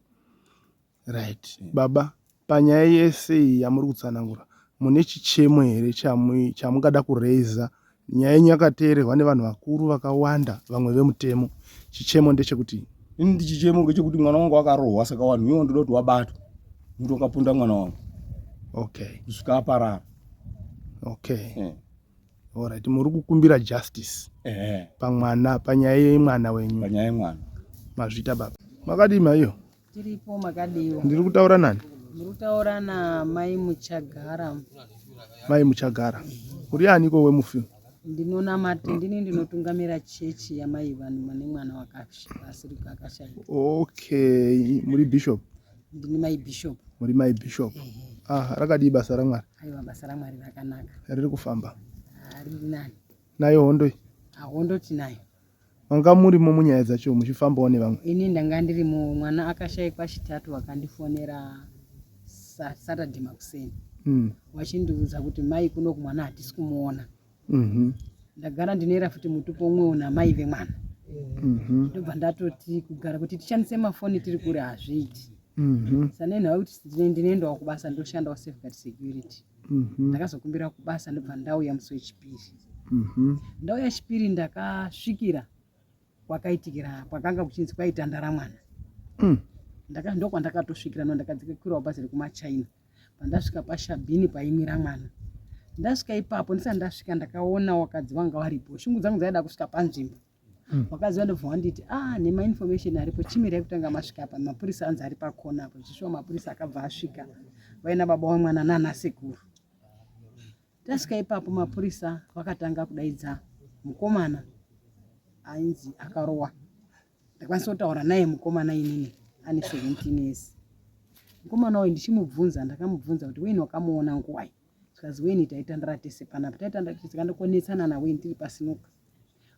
Speaker 3: right
Speaker 4: baba panyaya yese iyi yamuri kutsanangura mune chichemo here chamu- chamungada kuraiza Nyaya yenyu yakateererwa nevanhu vakuru vakawanda vamwe vemutemo. Chichemo ndechekuti. Ini ndichichemo
Speaker 3: ngechekuti mwana wangu akarohwa saka wanhu iwo ndoda kuti wabatwa. Muti wakapunda mwana wangu. Okay.
Speaker 4: Kusvika aparara. Okay. Yeah. Alright, muri kukumbira justice. Eh. Yeah. Pamwana, panyaya yemwana wenyu. Panyaya yemwana.
Speaker 3: Mazvita baba.
Speaker 4: Makadima iyo. Tiripo makadiwa.
Speaker 2: Ndiri kutaura nani?
Speaker 4: Ndiri kutaura
Speaker 2: na
Speaker 4: Mai
Speaker 2: Muchagara.
Speaker 4: Mai
Speaker 2: Muchagara.
Speaker 4: Uri ani ko we mufi? Ndinona mati
Speaker 2: ndini ndinotungamira chechi ya Mai Vanhu mane mwana wakashirika akashaya. Okay,
Speaker 4: muri bishop. Ndini Mai
Speaker 2: Bishop. Muri Mai Bishop.
Speaker 4: Eh. Ah, rakadii basa ra Mwari? Aiwa basa ra Mwari
Speaker 2: rakanaka. Riri kufamba.
Speaker 4: Ari nani?
Speaker 2: Nayo hondo.
Speaker 4: Ahondo tinayo.
Speaker 2: Manga murimo
Speaker 4: munyaya dzacho muchifambawo nevamwe? Ini ndanga ndirimo,
Speaker 2: mwana akashaikwa Chitatu vakandifonera Saturday makuseni mm. vachindiudza kuti mai kuno kumwana hatisi kumuona mm -hmm. ndagara ndinoera futi mutupo umwewo namai vemwana mm -hmm. ndobva ndatoti kugara kuti tishandise mafoni tiri kure hazviiti mm -hmm. sanenhau kuti ndinoendawo kubasa ndoshandawo safeguard security Mhm. ndakazokumbira kubasa ndobva ndauya musi wechipiri Mhm. ndauya chipiri ndakasvikira kwakaitikira kwakanga kuchinzi kwaitandara mwana Mm. Ndaka- ndokwandakatosvikira no ndakadzikirawo bhazi rekumachina pandasvika pashabhini paimira mwana ndasvika ipapo ndisati ndasvika ndakaona wakadzi vanga varipo shungu dzangu dzaida kusvika panzvimbo Hmm. vakadzi vandobva vanditi ah nemainformation aripo chimirai kutanga masvika apa mapurisa anzi ari pakona apo zvichishuwa mapurisa akabva asvika vaina baba wemwana nana sekuru tasvika ipapo mapurisa vakatanga kudaidza mukomana ainzi akarowa ndakwanisa kutaura naye mukomana inini ane 17 years mukomana uyu ndichimubvunza ndakamubvunza kuti weini wakamuona nguwai zvikanzi weni taitandara tese panapa taitandara tese kana konetsana naweni tiri pasinoka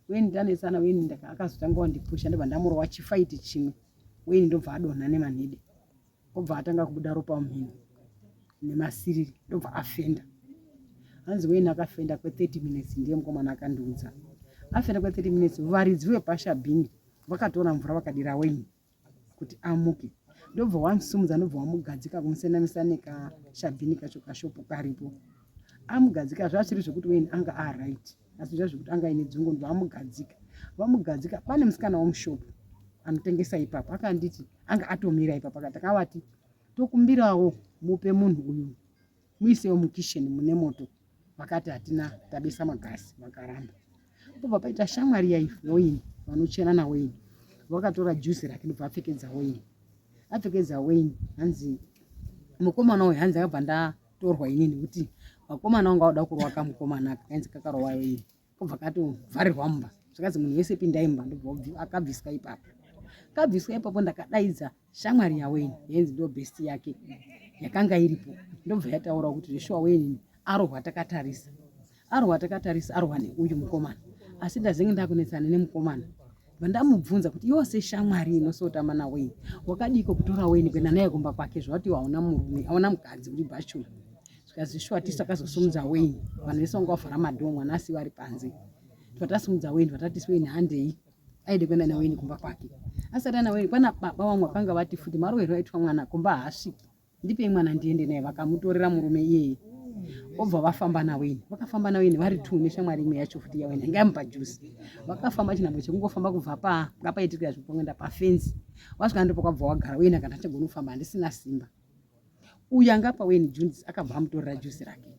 Speaker 2: weni tanetsana weni akazotanga wandipusha ndobva ndamura wachifaiti chimwe weni ndobva adonha nemanhede obva atanga kubuda ropa mumhino nemasiriri ndobva afenda hanzi weni akafenda kwe30 minutes ndiye mukomana akandiudza afenda kwe30 minutes varidzi vepashabhini vakatora mvura vakadira weni kuti amuke ndobva wamusumudza ndobva wamugadzika kumusenamisa nekashabhini kacho kashopu karipo amugadzika zvaasiri zvekuti weni anga aright asi zva zvekuti anga ine dzungu ndobva amugadzika vamugadzika pane musikana wamushopu anotengesa ipapo akanditi anga atomira ipapo akati akavati tokumbirawo mupe munhu uyu muisewo mukisheni mune moto vakati hatina tabisa magasi vakaramba pobva paita shamwari yaive yoini vanochena nawoini vakatora juzi rake ndobva apfekedza woini apfekedza woini hanzi mukomana uyu hanzi akabva ndatorwa ini nekuti vakomana vanga vada kurwaka mukomana kainzi kakarowa yoini kobva katovharirwa mumba zvakanzi munhu wese pindai mumba ndobva akabviswa ipapo kabviswa ipapo ndakadaidza shamwari yaweni yenzi ndo best yake yakanga iripo ndobva yataura kuti zveshuwa weni arohwa takatarisa arohwa takatarisa arohwa neuyu mukomana asi ndazenge ndakunetsana nemukomana vandamubvunza kuti iwo seshamwari inosotama naweni wakadiiko kutora weni kuenda naye kumba kwake zvavati iwo hauna murume hauna mukadzi uri bhachura tikazvishwatisa takazosimudza wain vanhu vese vanga vavhara madhoo mwana asi vari panze twatasimudza wain twatatiswa ini handei aide kuenda nawain kumba kwake asati ana wain kwana baba vamwe vakanga vati futi marowerwo aitwa mwana kumba haasviki ndipei mwana ndiende naye vakamutorera murume iyeye obva vafamba nawain vakafamba nawain vari two neshamwari imwe yacho futi yawain anga yamupa juzi vakafamba chinhambo chekungofamba kubva pa ngapaitirwa zvipongenda pafenzi wasvika ndopakwabva wagara wain akati achagona kufamba handisina simba uyu anga apa weni junzi akabva amutorera juzi rake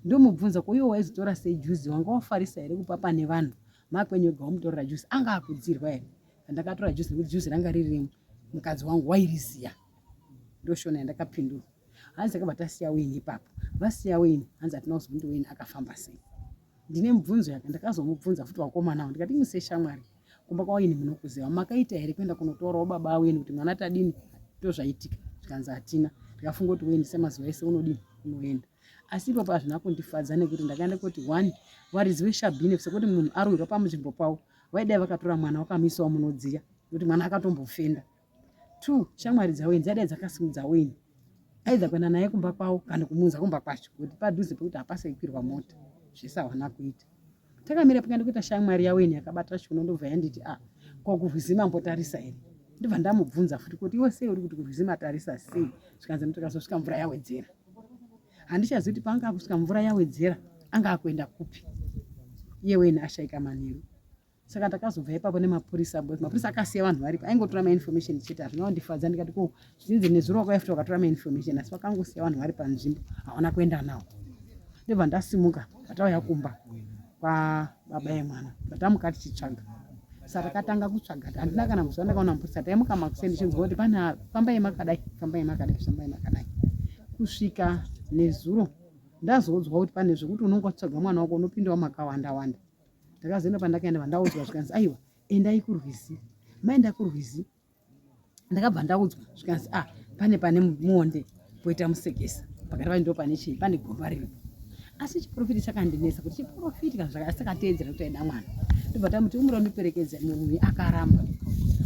Speaker 2: ndomubvunza koiwo waizotora sei juzi wanga wafarisa here kupa pane vanhu makwenyu ega wamutorera juzi anga akudzirwa here andakatora juzi nekuti juzi ranga riri mukadzi wangu wairiziya ndoshona yandakapindura hanzi akabva tasiya weni ipapo vasiya weni hanzi hatina kuzomuti weni akafamba sei ndine mubvunzo yake ndakazomubvunza futi wakomanawo ndikati museshamwari kumba kwaini munokuziva makaita here kuenda kunotorawo baba aweni kuti mwana tadini tozvaitika zvikanzi hatina ndikafunga kuti wendi semazuva ese unodini unoenda asi ipapo hazvina kundifadza nekuti ndakaenda kuti one varidzi veshabhine sekuti munhu arwirwa pamunzvimbo pavo vaidai vakatora mwana wakamisawo munodziya nekuti mwana akatombofenda Two, shamwari dzaWayne dzadai dzakasimudza Wayne aidha kuenda naye kumba kwavo kana kumuunza kumba kwacho kuti padhuze pekuti hapasi kukwirwa mota zvese hawana kuita. Takamira panga ndikuita shamwari yaWayne yakabata shuno ndobva yanditi a ah, ko kurwizi mambotarisa here ndibva ndamubvunza futi kuti iwe sei uri kuti kurwizi matarisa sei zvikanzi ndikazosvika mvura yawedzera handichazivi kuti paanga akusvika mvura yawedzera anga akuenda kupi iye Wayne ashaika manheru saka takazobva ipapo nemapurisa but mapurisa akasiya vanhu varipo aingotora mainformation chete hazvina kundifadza ndikati ko zvinzi nezuro wakaefta wakatora mainformation asi vakangosiya vanhu vari panzvimbo hawana kuenda nawo ndobva ndasimuka vatauya kumba kwababa yemwana vatamuka tichitsvaga sa takatanga kutsvaga handina kana muzuva ndakaona mapurisa taimuka makuseni tichinzwa kuti pane fambai makadai fambai makadai fambai makadai kusvika nezuro ndazoudzwa kuti pane zvekuti unonga utsvaga mwana wako unopindawo makawanda wanda ndakazoenda pandakaenda vandaudzwa zvikanzi aiwa endai kurwizi maenda kurwizi ndakabva ndaudzwa zvikanzi ah pane pane muonde poita musekesa pakati vaindiwo pane chii pane gomba rino asi chiprofiti chakandinetsa kuti chiprofiti kana zvakasakateedzera kuti aida mwana ndobva tamuti umura undiperekedza murumi akaramba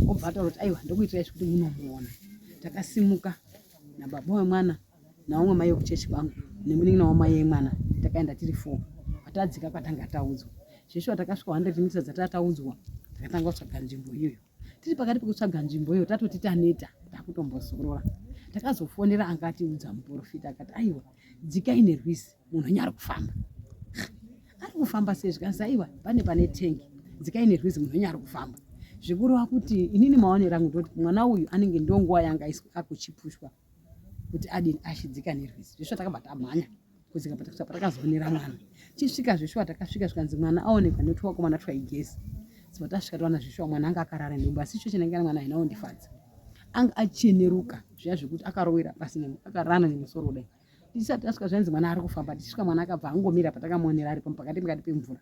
Speaker 2: obva ataura kuti aiwa ndokuitirai zvekuti munomuona takasimuka nababa wemwana naumwe mai vekuchechi kwangu nemunin'ina wamai yemwana takaenda tiri four patadzika kwatanga taudzwa zveshuwa takasvika 100 mita dzatanga taudzwa takatanga kutsvaga nzvimbo iyoyo tiri pakati pekutsvaga nzvimbo iyoyo tatoti taneta takutombozorora takazofonera anga atiudza muprofita akati aiwa dzikai nerwizi munhu wenyu ari kufamba ari kufamba sei zvikanzi aiwa pane pane tengi dzikai nerwizi munhu wenyu ari kufamba zvikureva kuti inini maonero angu ndoti mwana uyu anenge ndonguva yanga akuchipushwa kuti adini ashidzika nerwizi zveshuwa takabva tamhanya kudzika patakuta patakazoonera mwana tisvika zveshuwa takasvika zvikanzi mwana aonekwa notwakomana twaigezi saka tasvika tawana zveshuwa mwana anga akarara nhumbu asi icho chinangana mwana haina kundifadza anga acheneruka zviya zvekuti akarowera pasi akarana nemusoro kudai tisati tasvika zvainzi mwana ari kufamba tichisvika mwana akabva angomira patakamuonera ari pamupakati pakati pemvura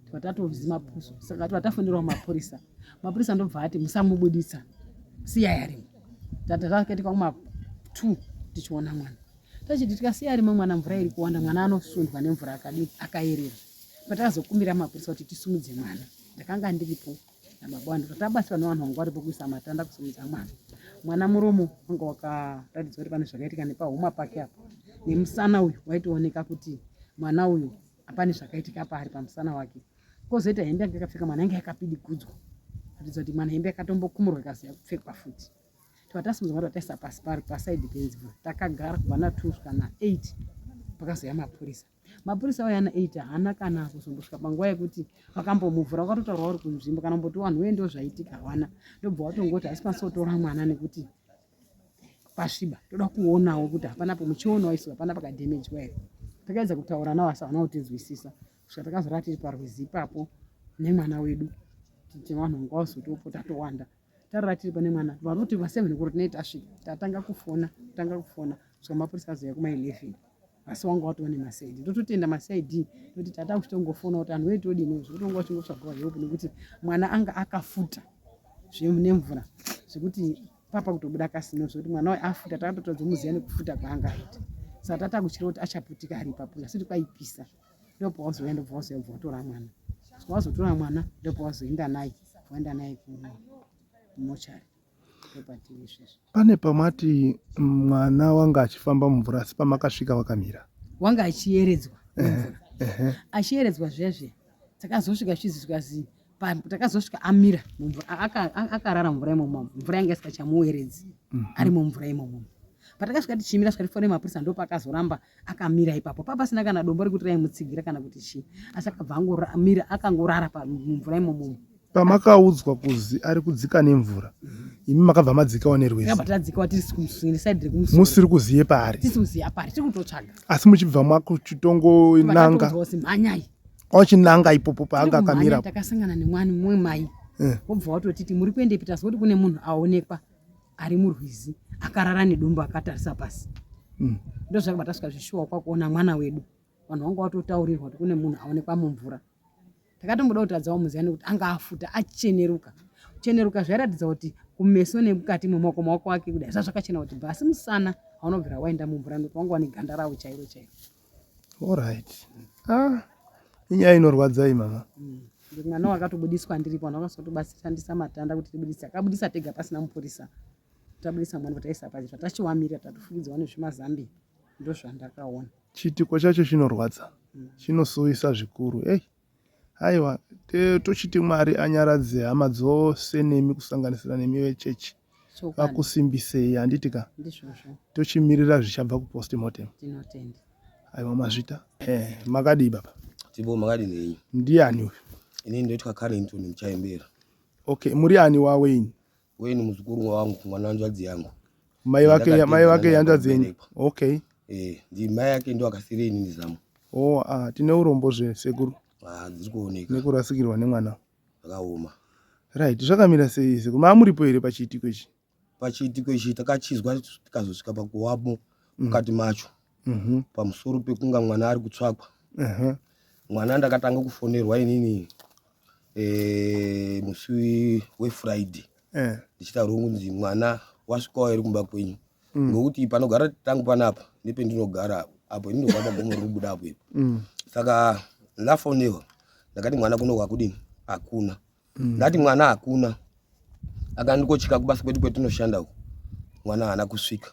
Speaker 2: twatatozi mapuso saka twatafonerawo mapurisa mapurisa ndobva ati musamubuditsa siyai arimo tatakaita kwamwa two tichiona mwana tachiti tikasiya arimo mwana mvura iri kuwanda mwana anosundwa nemvura akadii akayerera patakazokumbira mapurisa kuti tisumudze mwana ndakanga ndiripo nababa wani tatabatsirwa nevanhu vanga varipo kuisa matanda kusumudza mwana mwana muromo wanga wakaratidzwa kuti pane zvakaitika nepahuma pake apo nemusana uyu waitooneka kuti mwana uyu Pane zvakaitika paari pamusana wake. Kozoita hembe yanga yakapfeka mwana yanga yakapidigudzwa. Kuratidza kuti mwana hembe yakatombokumurwa ikazi yakupfekwa futi. Twatasimudzwa mwana twataisa pasi pari pasaidi penzimba. Takagara kubva na 2 kusvika na 8 pakazouya mapurisa. Mapurisa auya na 8 haana kana kuzombosvika panguva yekuti vakambomuvhura vakatotaura vari kunzvimbo kana kumboti wanhu wee ndozvaitika hawana. Ndobva watongoti haisi pasi wotora mwana nekuti pasviba toda kuonawo kuti hapana pamuchionawo isu hapana pakadhemejwa here takaedza kutaura nawo asi havana kutinzwisisa kusvika takazorava tiri parwizi ipapo nemwana wedu tichiti vanhu vanga vazotopo tatowanda tarara tiri pane mwana varoti vaseven kuri tinei tasvika tatanga kufona tanga kufona kusvika mapurisa azoya kuma eleven asi wanga watova nemasaidi ndototenda masaid nekuti tata kuchitongofona kuti anhu wetodini zvekuti wanga uchingotsvagawa help nekuti mwana anga akafuta zvenemvura zvekuti papa kutobuda kasino zvekuti mwana wayo afuta takatotadza muziva nekufuta kwaanga aita saka tata kutyira kuti achaputika ari ipapo asiti kwaipisa ndopawazoya ndobva wazoya bva watora mwana wazotora mwana ndopawazoenda naye waenda naye kumochari
Speaker 4: pane pamati mwana wanga achifamba mumvura asi pamakasvika wakamira wanga achiyeredzwa
Speaker 2: achiyeredzwa zviya zviya takazosvika chizi zvikazi takazosvika amira mumvura akarara mumvura imomo mvura yanga isikachamuweredzi mhm. ari mumvura imomo patakasvika tichimira svikati fone mapurisa ndo paakazoramba akamira ipapo papasina kana dombo rekuti raimutsigira kana kuti chii asi akabva angomira akangorara mumvura imomomo pamakaudzwa
Speaker 4: kuzi ari kudzika nemvura imi makabva madzikawo nerwezimusiri
Speaker 2: kuziye
Speaker 4: paari
Speaker 2: asi muchibva
Speaker 4: makuchitongonanga
Speaker 2: ochinanga
Speaker 4: ipopo paanga akamira takasangana nemwani mumwe
Speaker 2: mai eh. wobva watotiti muri kuende pita sekuti kune munhu aonekwa ari murwizi akarara nedumbu akatarisa pasi hmm. ndozvakabva tasvika zvishuwa kwakuona mwana wedu vanhu vanga watotaurirwa kuti kune munhu aonekwa mumvura mm. Ndakatomboda kutadzawo Muziani kuti anga afuta acheneruka. Kucheneruka zvairatidza kuti kumeso nemukati memaoko maoko ake kudai zvazvakachena kuti bha asi musana haunobvira waenda mumvura nekuti wanga wane ganda rawo chairo chairo. Alright.
Speaker 4: Ah, inyaya inorwadza iyi mama. Mm. Mwana
Speaker 2: wakatobudiswa ndiripo vanhu vakazotobatsirandisa matanda kuti tibudise akabudisa tega pasina mupurisa tabudisa mwana kuti aisa pazi tatachiwamira tatofukidzwa nezvimazambi ndozvandakaona. Chiitiko chacho
Speaker 4: chinorwadza, chinosuwisa zvikuru. Hey, haiwa tochiti Mwari anyaradze hama dzose nemi kusanganisira nemi vechechi vakusimbisei, handiti ka?
Speaker 2: Tochimirira zvichabva
Speaker 4: kupostmortem. Tinotenda.
Speaker 2: Aiwa mazvita.
Speaker 4: Eh, makadii baba? Tibo makadii nei?
Speaker 1: Ndiani uyu?
Speaker 4: Ini ndoitwa
Speaker 1: Carrington Muchaimbera. Okay, muri
Speaker 4: ani waWayne? uye ni muzukuru
Speaker 1: wangu mwana wanzvadzi yangu mai vake
Speaker 4: mai vake yanzvadzi yenyu okay eh ndi mai
Speaker 1: yake ndo akasire ini nizamu oh ah tine
Speaker 4: urombo zve sekuru ah dziri kuoneka
Speaker 1: nekurasikirwa nemwana
Speaker 4: akaoma
Speaker 1: right
Speaker 4: zvakamira sei sekuru maamuripo here pachiitiko ichi
Speaker 1: pachiitiko ichi
Speaker 4: takachizwa
Speaker 1: tikazosvika pakuwamo
Speaker 4: mm.
Speaker 1: mukati mm. macho Mhm. pamusoro pekunga mwana ari kutsvakwa Ehe. mwana ndakatanga kufonerwa inini eh, musi wefriday Eh. ndichitaurwa kunzi mwana wasvikawo here kumba kwenyu Mm. ngokuti panogara tangu panapa nependinogara apo ini ndogara pagomo rinobuda apo ipo Mm. saka ndafonewa ndakati mwana kuno kwakudini hakuna Mm. ndati mwana hakuna akandikochika kubasa kwedu kwetinoshanda uku mwana haana kusvika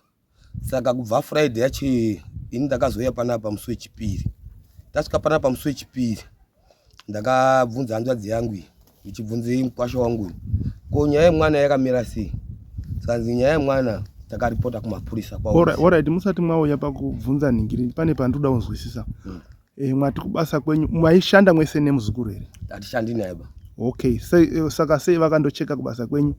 Speaker 1: saka kubva friday yacho iyoyo ini ndakazouya panapa musi wechipiri ndasvika panapa musi wechipiri ndakabvunza hanzvadzi yangu iyi ndichibvunzei mukwasha wangu uyu ko nyaya yemwana yakamira sei sanzi nyaya yemwana takaripota kumapurisa kwaorit musati mwauya
Speaker 4: pakubvunza nhingiri pane pandinoda kunzwisisa hmm. Eh, mwati kubasa kwenyu mwaishanda mwese nemuzukuru here? Hatishandi naye ba.
Speaker 1: Okay, sei eh,
Speaker 4: saka sei vakandocheka kubasa kwenyu?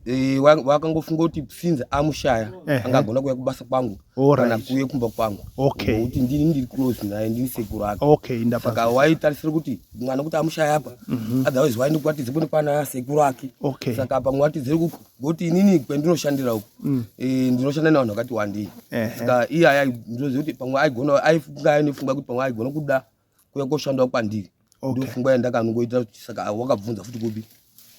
Speaker 4: Eh,
Speaker 1: wakangofunga kuti since amushaya eh, angagona eh. kuya kubasa kwangu right. kana kuye kumba kwangu okay. kuti ndini ndiri close naye ndini sekuru ake okay, saka
Speaker 4: waitarisira kuti
Speaker 1: mwana kuti amushaya apa mm -hmm. otherwise waende kuvatidze kune kwana sekuru ake okay. saka apa mwatidze kuku ngokuti inini kwendinoshandira uku mm. eh, ndinoshanda nevanhu vakati wandei ska iye aya ndinoziva kuti pamwe aigona aifunga ainofunga kuti pamwe aigona kuda kuya koshandawo kwandiri ndofunga yandakanongoita kuti saka wakabvunza futi kupi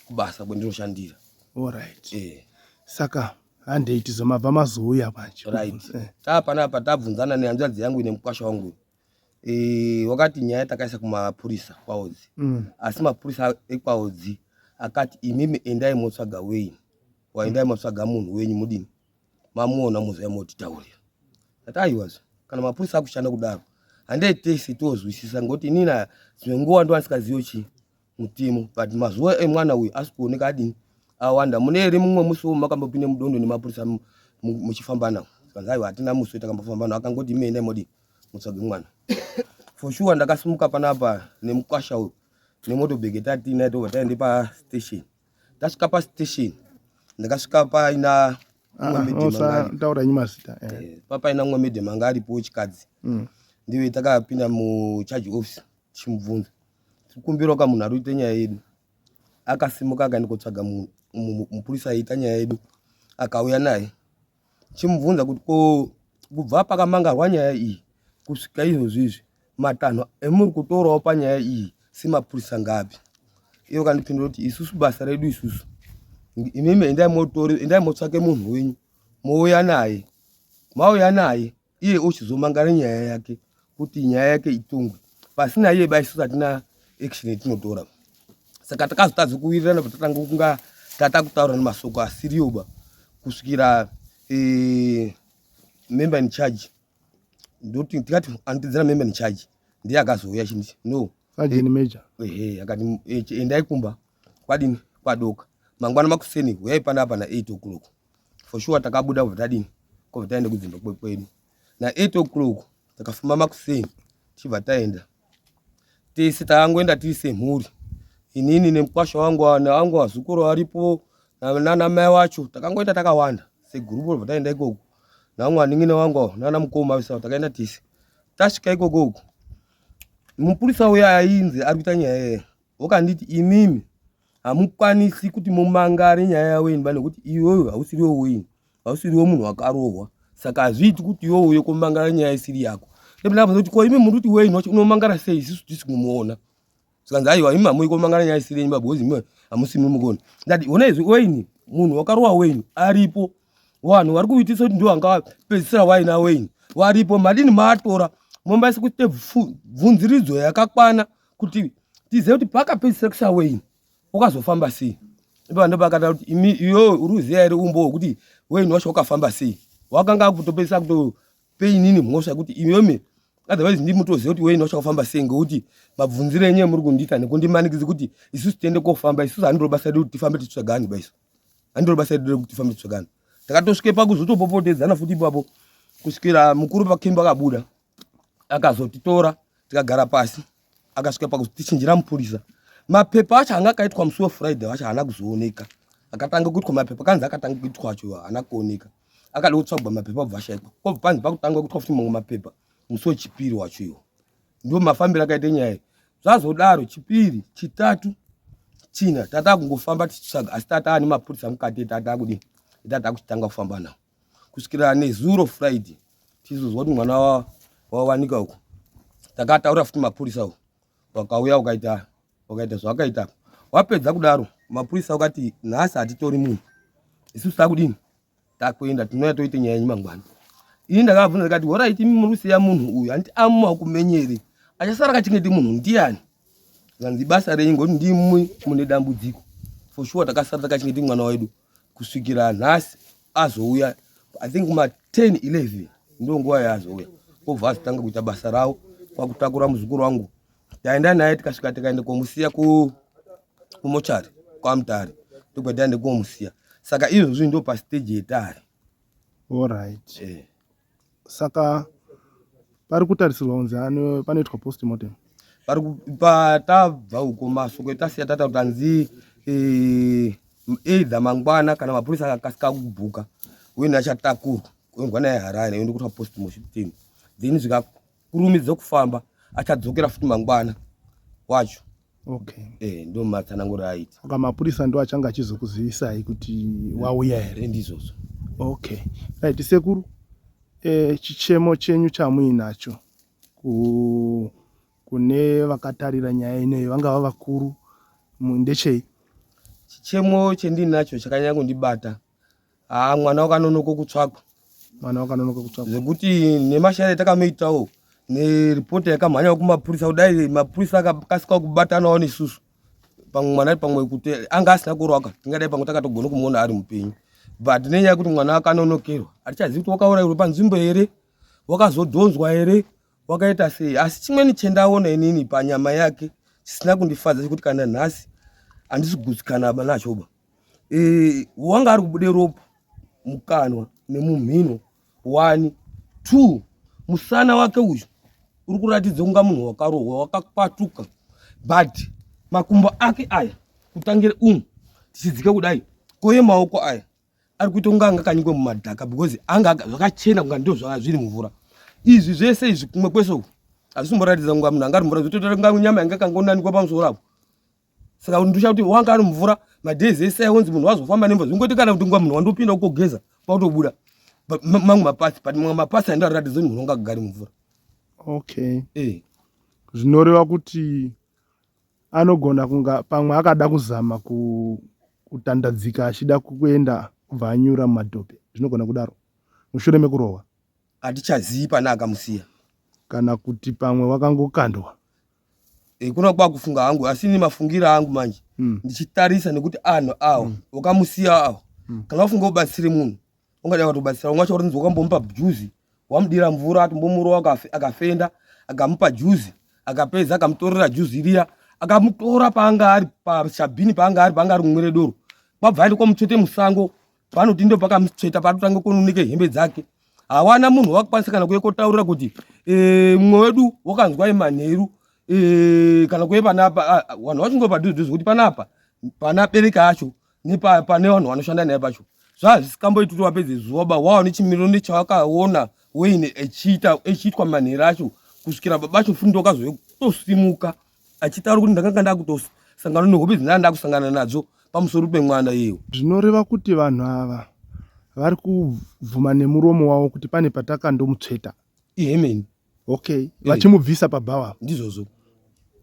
Speaker 1: kubasa kwendinoshandira orit
Speaker 4: eh. saka handei tizomabva mazouya manje right eh. taa
Speaker 1: panapa tabvunzana nehanzvadzi yangu ine mukwasha wangu Eh, wakati nyaya takaisa kumapurisa kwaodzi mm. asi mapurisa ekwaodzi akati imimi endai motsvaga wenyu waendai mm. motsvaga munhu wenyu mudini mamuona mozvai motitaurira ati aiwazvo kana mapurisa akushanda kudaro handei tese tozwisisa ngokuti inina dzimwe nguva ndovandisingazivo chii mutemo but mazuva emwana uyu asi kuoneka adini awanda mune here mumwe musi wo makambopinde mudondo nemapurisa muchifamba nawo kanzi aiwa hatina musi wetakambofamba nawo akangoti imi endai modii mutsvage mwana for sure ndakasimuka panapa nemukwasha uyu nemotobhege tatiinaye tobva taende pastation tasvika pastation ndakasvika paina mumwemedemangataura
Speaker 4: ah, nyi mazita eh. eh, papaina mumwe
Speaker 1: medemanga aripo chikadzi mm. ndive takapinda mucharge office tichimubvunza tikumbirawo ka munhu ari kuita nyaya yedu akasimuka akaenda kotsvaga munhu mupurisa aiita nyaya yedu akauya naye chimubvunza kuti ko kubva pakamangarwa nyaya iyi kusvika izvozvi izvi matanho emuri kutorawo panyaya iyi semapurisa ngapi iyo kandipindura kuti isusu basa redu isusu imimi endai motsvake munhu wenyu mouya naye mauya naye iye ochizomangara nyaya yake kuti nyaya yake itongwe pasina iye ba isusu hatina action yatinotora saka takazotadza kuwirirana patatanga kunga tata kutaura nemasoko asiriyo ba kusvikira eh, member in charge ndoti tikati andidzira member in charge ndiye akazouya chindi no sajeni major
Speaker 4: ehe akati
Speaker 1: eh, endai kumba kwadini kwadoka mangwana makuseni huyai panapa na 8 o'clock for sure takabuda kubva tadini kubva taenda kudzimba kwedu na 8 o'clock takafamba makuseni tichibva taenda tese takangoenda tiri semhuri inini nemukwasha wangu wangu wazukuru varipo nana mai wacho takangoenda takawanda segurupu robva taenda ikoko namwe aningi newangu nana mukoma visa takaenda tese tasvika ikoko uku mupurisa uya ainzi ari kuita nyaya yeye Ukanditi imimi hamukwanisi kuti mumangare nyaya yavo imba nekuti iyoyo hausiriwo wini hausiriwo munhu wakarohwa saka hazviiti kuti iwo uyo komangara nyaya isiri yako kuti ko imi muri kuti wini wacho unomangara sei isisu tisi kumuona sikanzi aiwa imi hamui komangara nyaya isiri yenyu babhozi imi hamusimi mukoni ndati ona izvi wini munhu wakarohwa wini aripo vanhu vari kuitisa kuti ndiwo anga pedzisira waina wini varipo madini maatora mombaisa kuite bvunziridzo yakakwana kuti tizive kuti pakapedzisira kusaweini ukazofamba sei ipa ndo pakata kuti imi iyo uri kuziva here umbo hwekuti weini wacho wakafamba sei wakanga akutopedzisa kutopainini mhosva kuti imimi otherwise ndi mutoziva kuti weini wacho wakafamba sei ngekuti mabvunziro enyu emuri kundiita nekundimanikidzi kuti isusu tiende kofamba isusu handiro basa redu kuti tifambe titsvagani baisu handiro basa redu rekuti tifambe titsvagani takatosvike pakuzotopopotedzana futi ipapo kusvikira mukuru pakemba akabuda akazotitora tikagara pasi akasvika pakutichinjira mupurisa mapepa acho anga akaitwa musi wefriday wacho haana kuzooneka akatanga kuitwa mapepa kanzi akatanga kuitwa acho haana kuoneka akada kutsvagwa mapepa obva ashaikwa kobva panzi pakutanga kuitwa futi mamwe mapepa musi wechipiri wacho iwo ndo mafambiro akaita nyaya iyi zvazodaro chipiri chitatu china tataa kungofamba tichitsvaga asi tataa nemapurisa mukati etataa kudii etataa kuchitanga kufamba nawo kusvikira nezuro friday tizozwa kuti mwana wawanika uku takataura futi mapurisa uku wakauya ukaita wakaita zvawakaita wapedza kudaro mapurisa wakati nhasi hatitori munhu isusu takudini takuenda tinouya toite nyaya yenyu mangwana ini ndakabvunza ndikati horaiti imi muri kusiya munhu uyu handiti amumakumenyere achasara kachingeti munhu ndiyani zvanzi basa renyu ngokuti ndimwi mune dambudziko for sure takasara takachingeti mwana wedu kusvikira nhasi azouya i think kuma 10 11 ndo nguva yaazouya obva azotanga kuita basa ravo kwakutakura muzukuru wangu taenda naye tikasvika tikaenda komusiya kumochari kwamutari ndokwataenda komusiya saka izvozvi ndo pasteji yetari orit
Speaker 4: eh. saka pari kutarisirwa kunzi panoitwa postmortem pari patabva
Speaker 1: uko mashoko etasiya tata kuti hanzi eh, either mangwana kana mapurisa akakasika kubhuka uye ndachatakurwa kuendwa naye harare oende kutwa postmortem then zvika kurumidza kufamba achadzokera futi mangwana wacho okay.
Speaker 4: eh, ndo matsananguro
Speaker 1: aita saka mapurisa ndo achanga
Speaker 4: achizokuzivisai kuti wauya here ndizvozvo
Speaker 1: okay
Speaker 4: right sekuru eh, chichemo chenyu chamuinacho ku kune vakatarira nyaya ineyo vangava vakuru ndechei
Speaker 1: chichemo chendinacho chakanyanya kundibata haa mwana wakanonoka kutsvakwa mwana wakanonoka
Speaker 4: kutsvakwa zvekuti nemashare
Speaker 1: takamuitawo neripoti yakamhanyawo kumapurisa kudai mapurisa akakasikawo kubatanawo nesusu pamwe mwana ari pamwe kuti anga asina kurwaka tingadai pamwe takatogona kumuona ari mupenyu but nenyaya yekuti mwana akanonokerwa hatichazivi kuti wakaurairwa panzvimbo here wakazodhonzwa here wakaita sei asi chimweni chendaona inini panyama yake chisina kundifadza chekuti kana nhasi handisi gutsikana nachoba eh, wanga ari kubude ropa mukanwa nemumhino one two musana wake uyu uri kuratidza kunga munhu wakarohwa wakakwatuka but makumbo ake aya kutangire umu tichidzike kudai koye maoko aya ari kuita kunga anga kanyikwe mumadhaka because anga zvakachena kunga ndo zvanga zviri mvura izvi zvese izvi kumwe kwese uku hazvisimboratidza kunga munhu anga ari mvura zvototora kunga nyama yanga kangonanikwa pamusoro apo saka ndosha kuti wanga ari mvura madays ese aonzi munhu wazofamba nemvura zvingoti kana kuti nguva munhu wandopinda ukogeza kwakutobuda mamwe mapasi but mamwe mapasi andaratidza munhu wanga kugari mvura okay
Speaker 4: eh zvinoreva kuti anogona kunga pamwe akada kuzama kutandadzika achida kuenda kubva anyura mumadhope zvinogona kudaro mushure mekurohwa hatichazivi
Speaker 1: pane akamusiya kana
Speaker 4: kuti pamwe wakangokandwa Eh,
Speaker 1: kuna kwakufunga hangu asi ini mafungira angu manje mm. ndichitarisa nekuti anhu awa mm. wakamusiya awa mm. kana wafunga ubatsire munhu ungadai watobatsira umwe wacho warinzi wakambomupa juzi wamudira mvura atombomurowa akafenda akamupa juzi akapedza akamutorera juzi riya akamutora paanga ari pachabhini paanga ari paanga ari kumwire doro kwabva aenda kwamutsvete musango panoti ndo pakamutsveta patotanga kununike hembe dzake hawana munhu wakakwanisa kana kuye kotaurira kuti eh, mumwe wedu wakanzwai manheru eh, kana kuye panapa ah, vanhu vachingova padhuzidhuzi kuti panapa pana bereka acho nepane vanhu vanoshanda naye pacho zvazvisikamboiti kuti wapedze zuva ba wawa nechimiriro nechawakaona weine echiitwa manheru acho kusvikira babacho fundo kazoye kutosimuka achitaura kuti ndakanga ndakutosangana nehope dzandanga ndakusangana nadzo pamusoro pemwana iyewo zvinoreva kuti vanhu
Speaker 4: ava vari kubvuma nemuromo wavo kuti pane patakandomutsveta ihemeni
Speaker 1: okay
Speaker 4: eh. vachimubvisa pabhawa ndizvozvo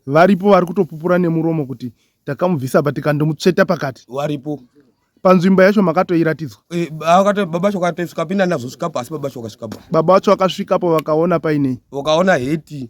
Speaker 1: varipo
Speaker 4: vari kutopupura nemuromo kuti takamubvisa pa tikandomutsveta pakati varipo
Speaker 1: panzvimbo yacho
Speaker 4: makatoiratidzwa eh, baba
Speaker 1: chokatosvika pinda nazosvika pasi baba chokasvikapo baba vacho vakasvikapo
Speaker 4: vakaona painei vakaona heti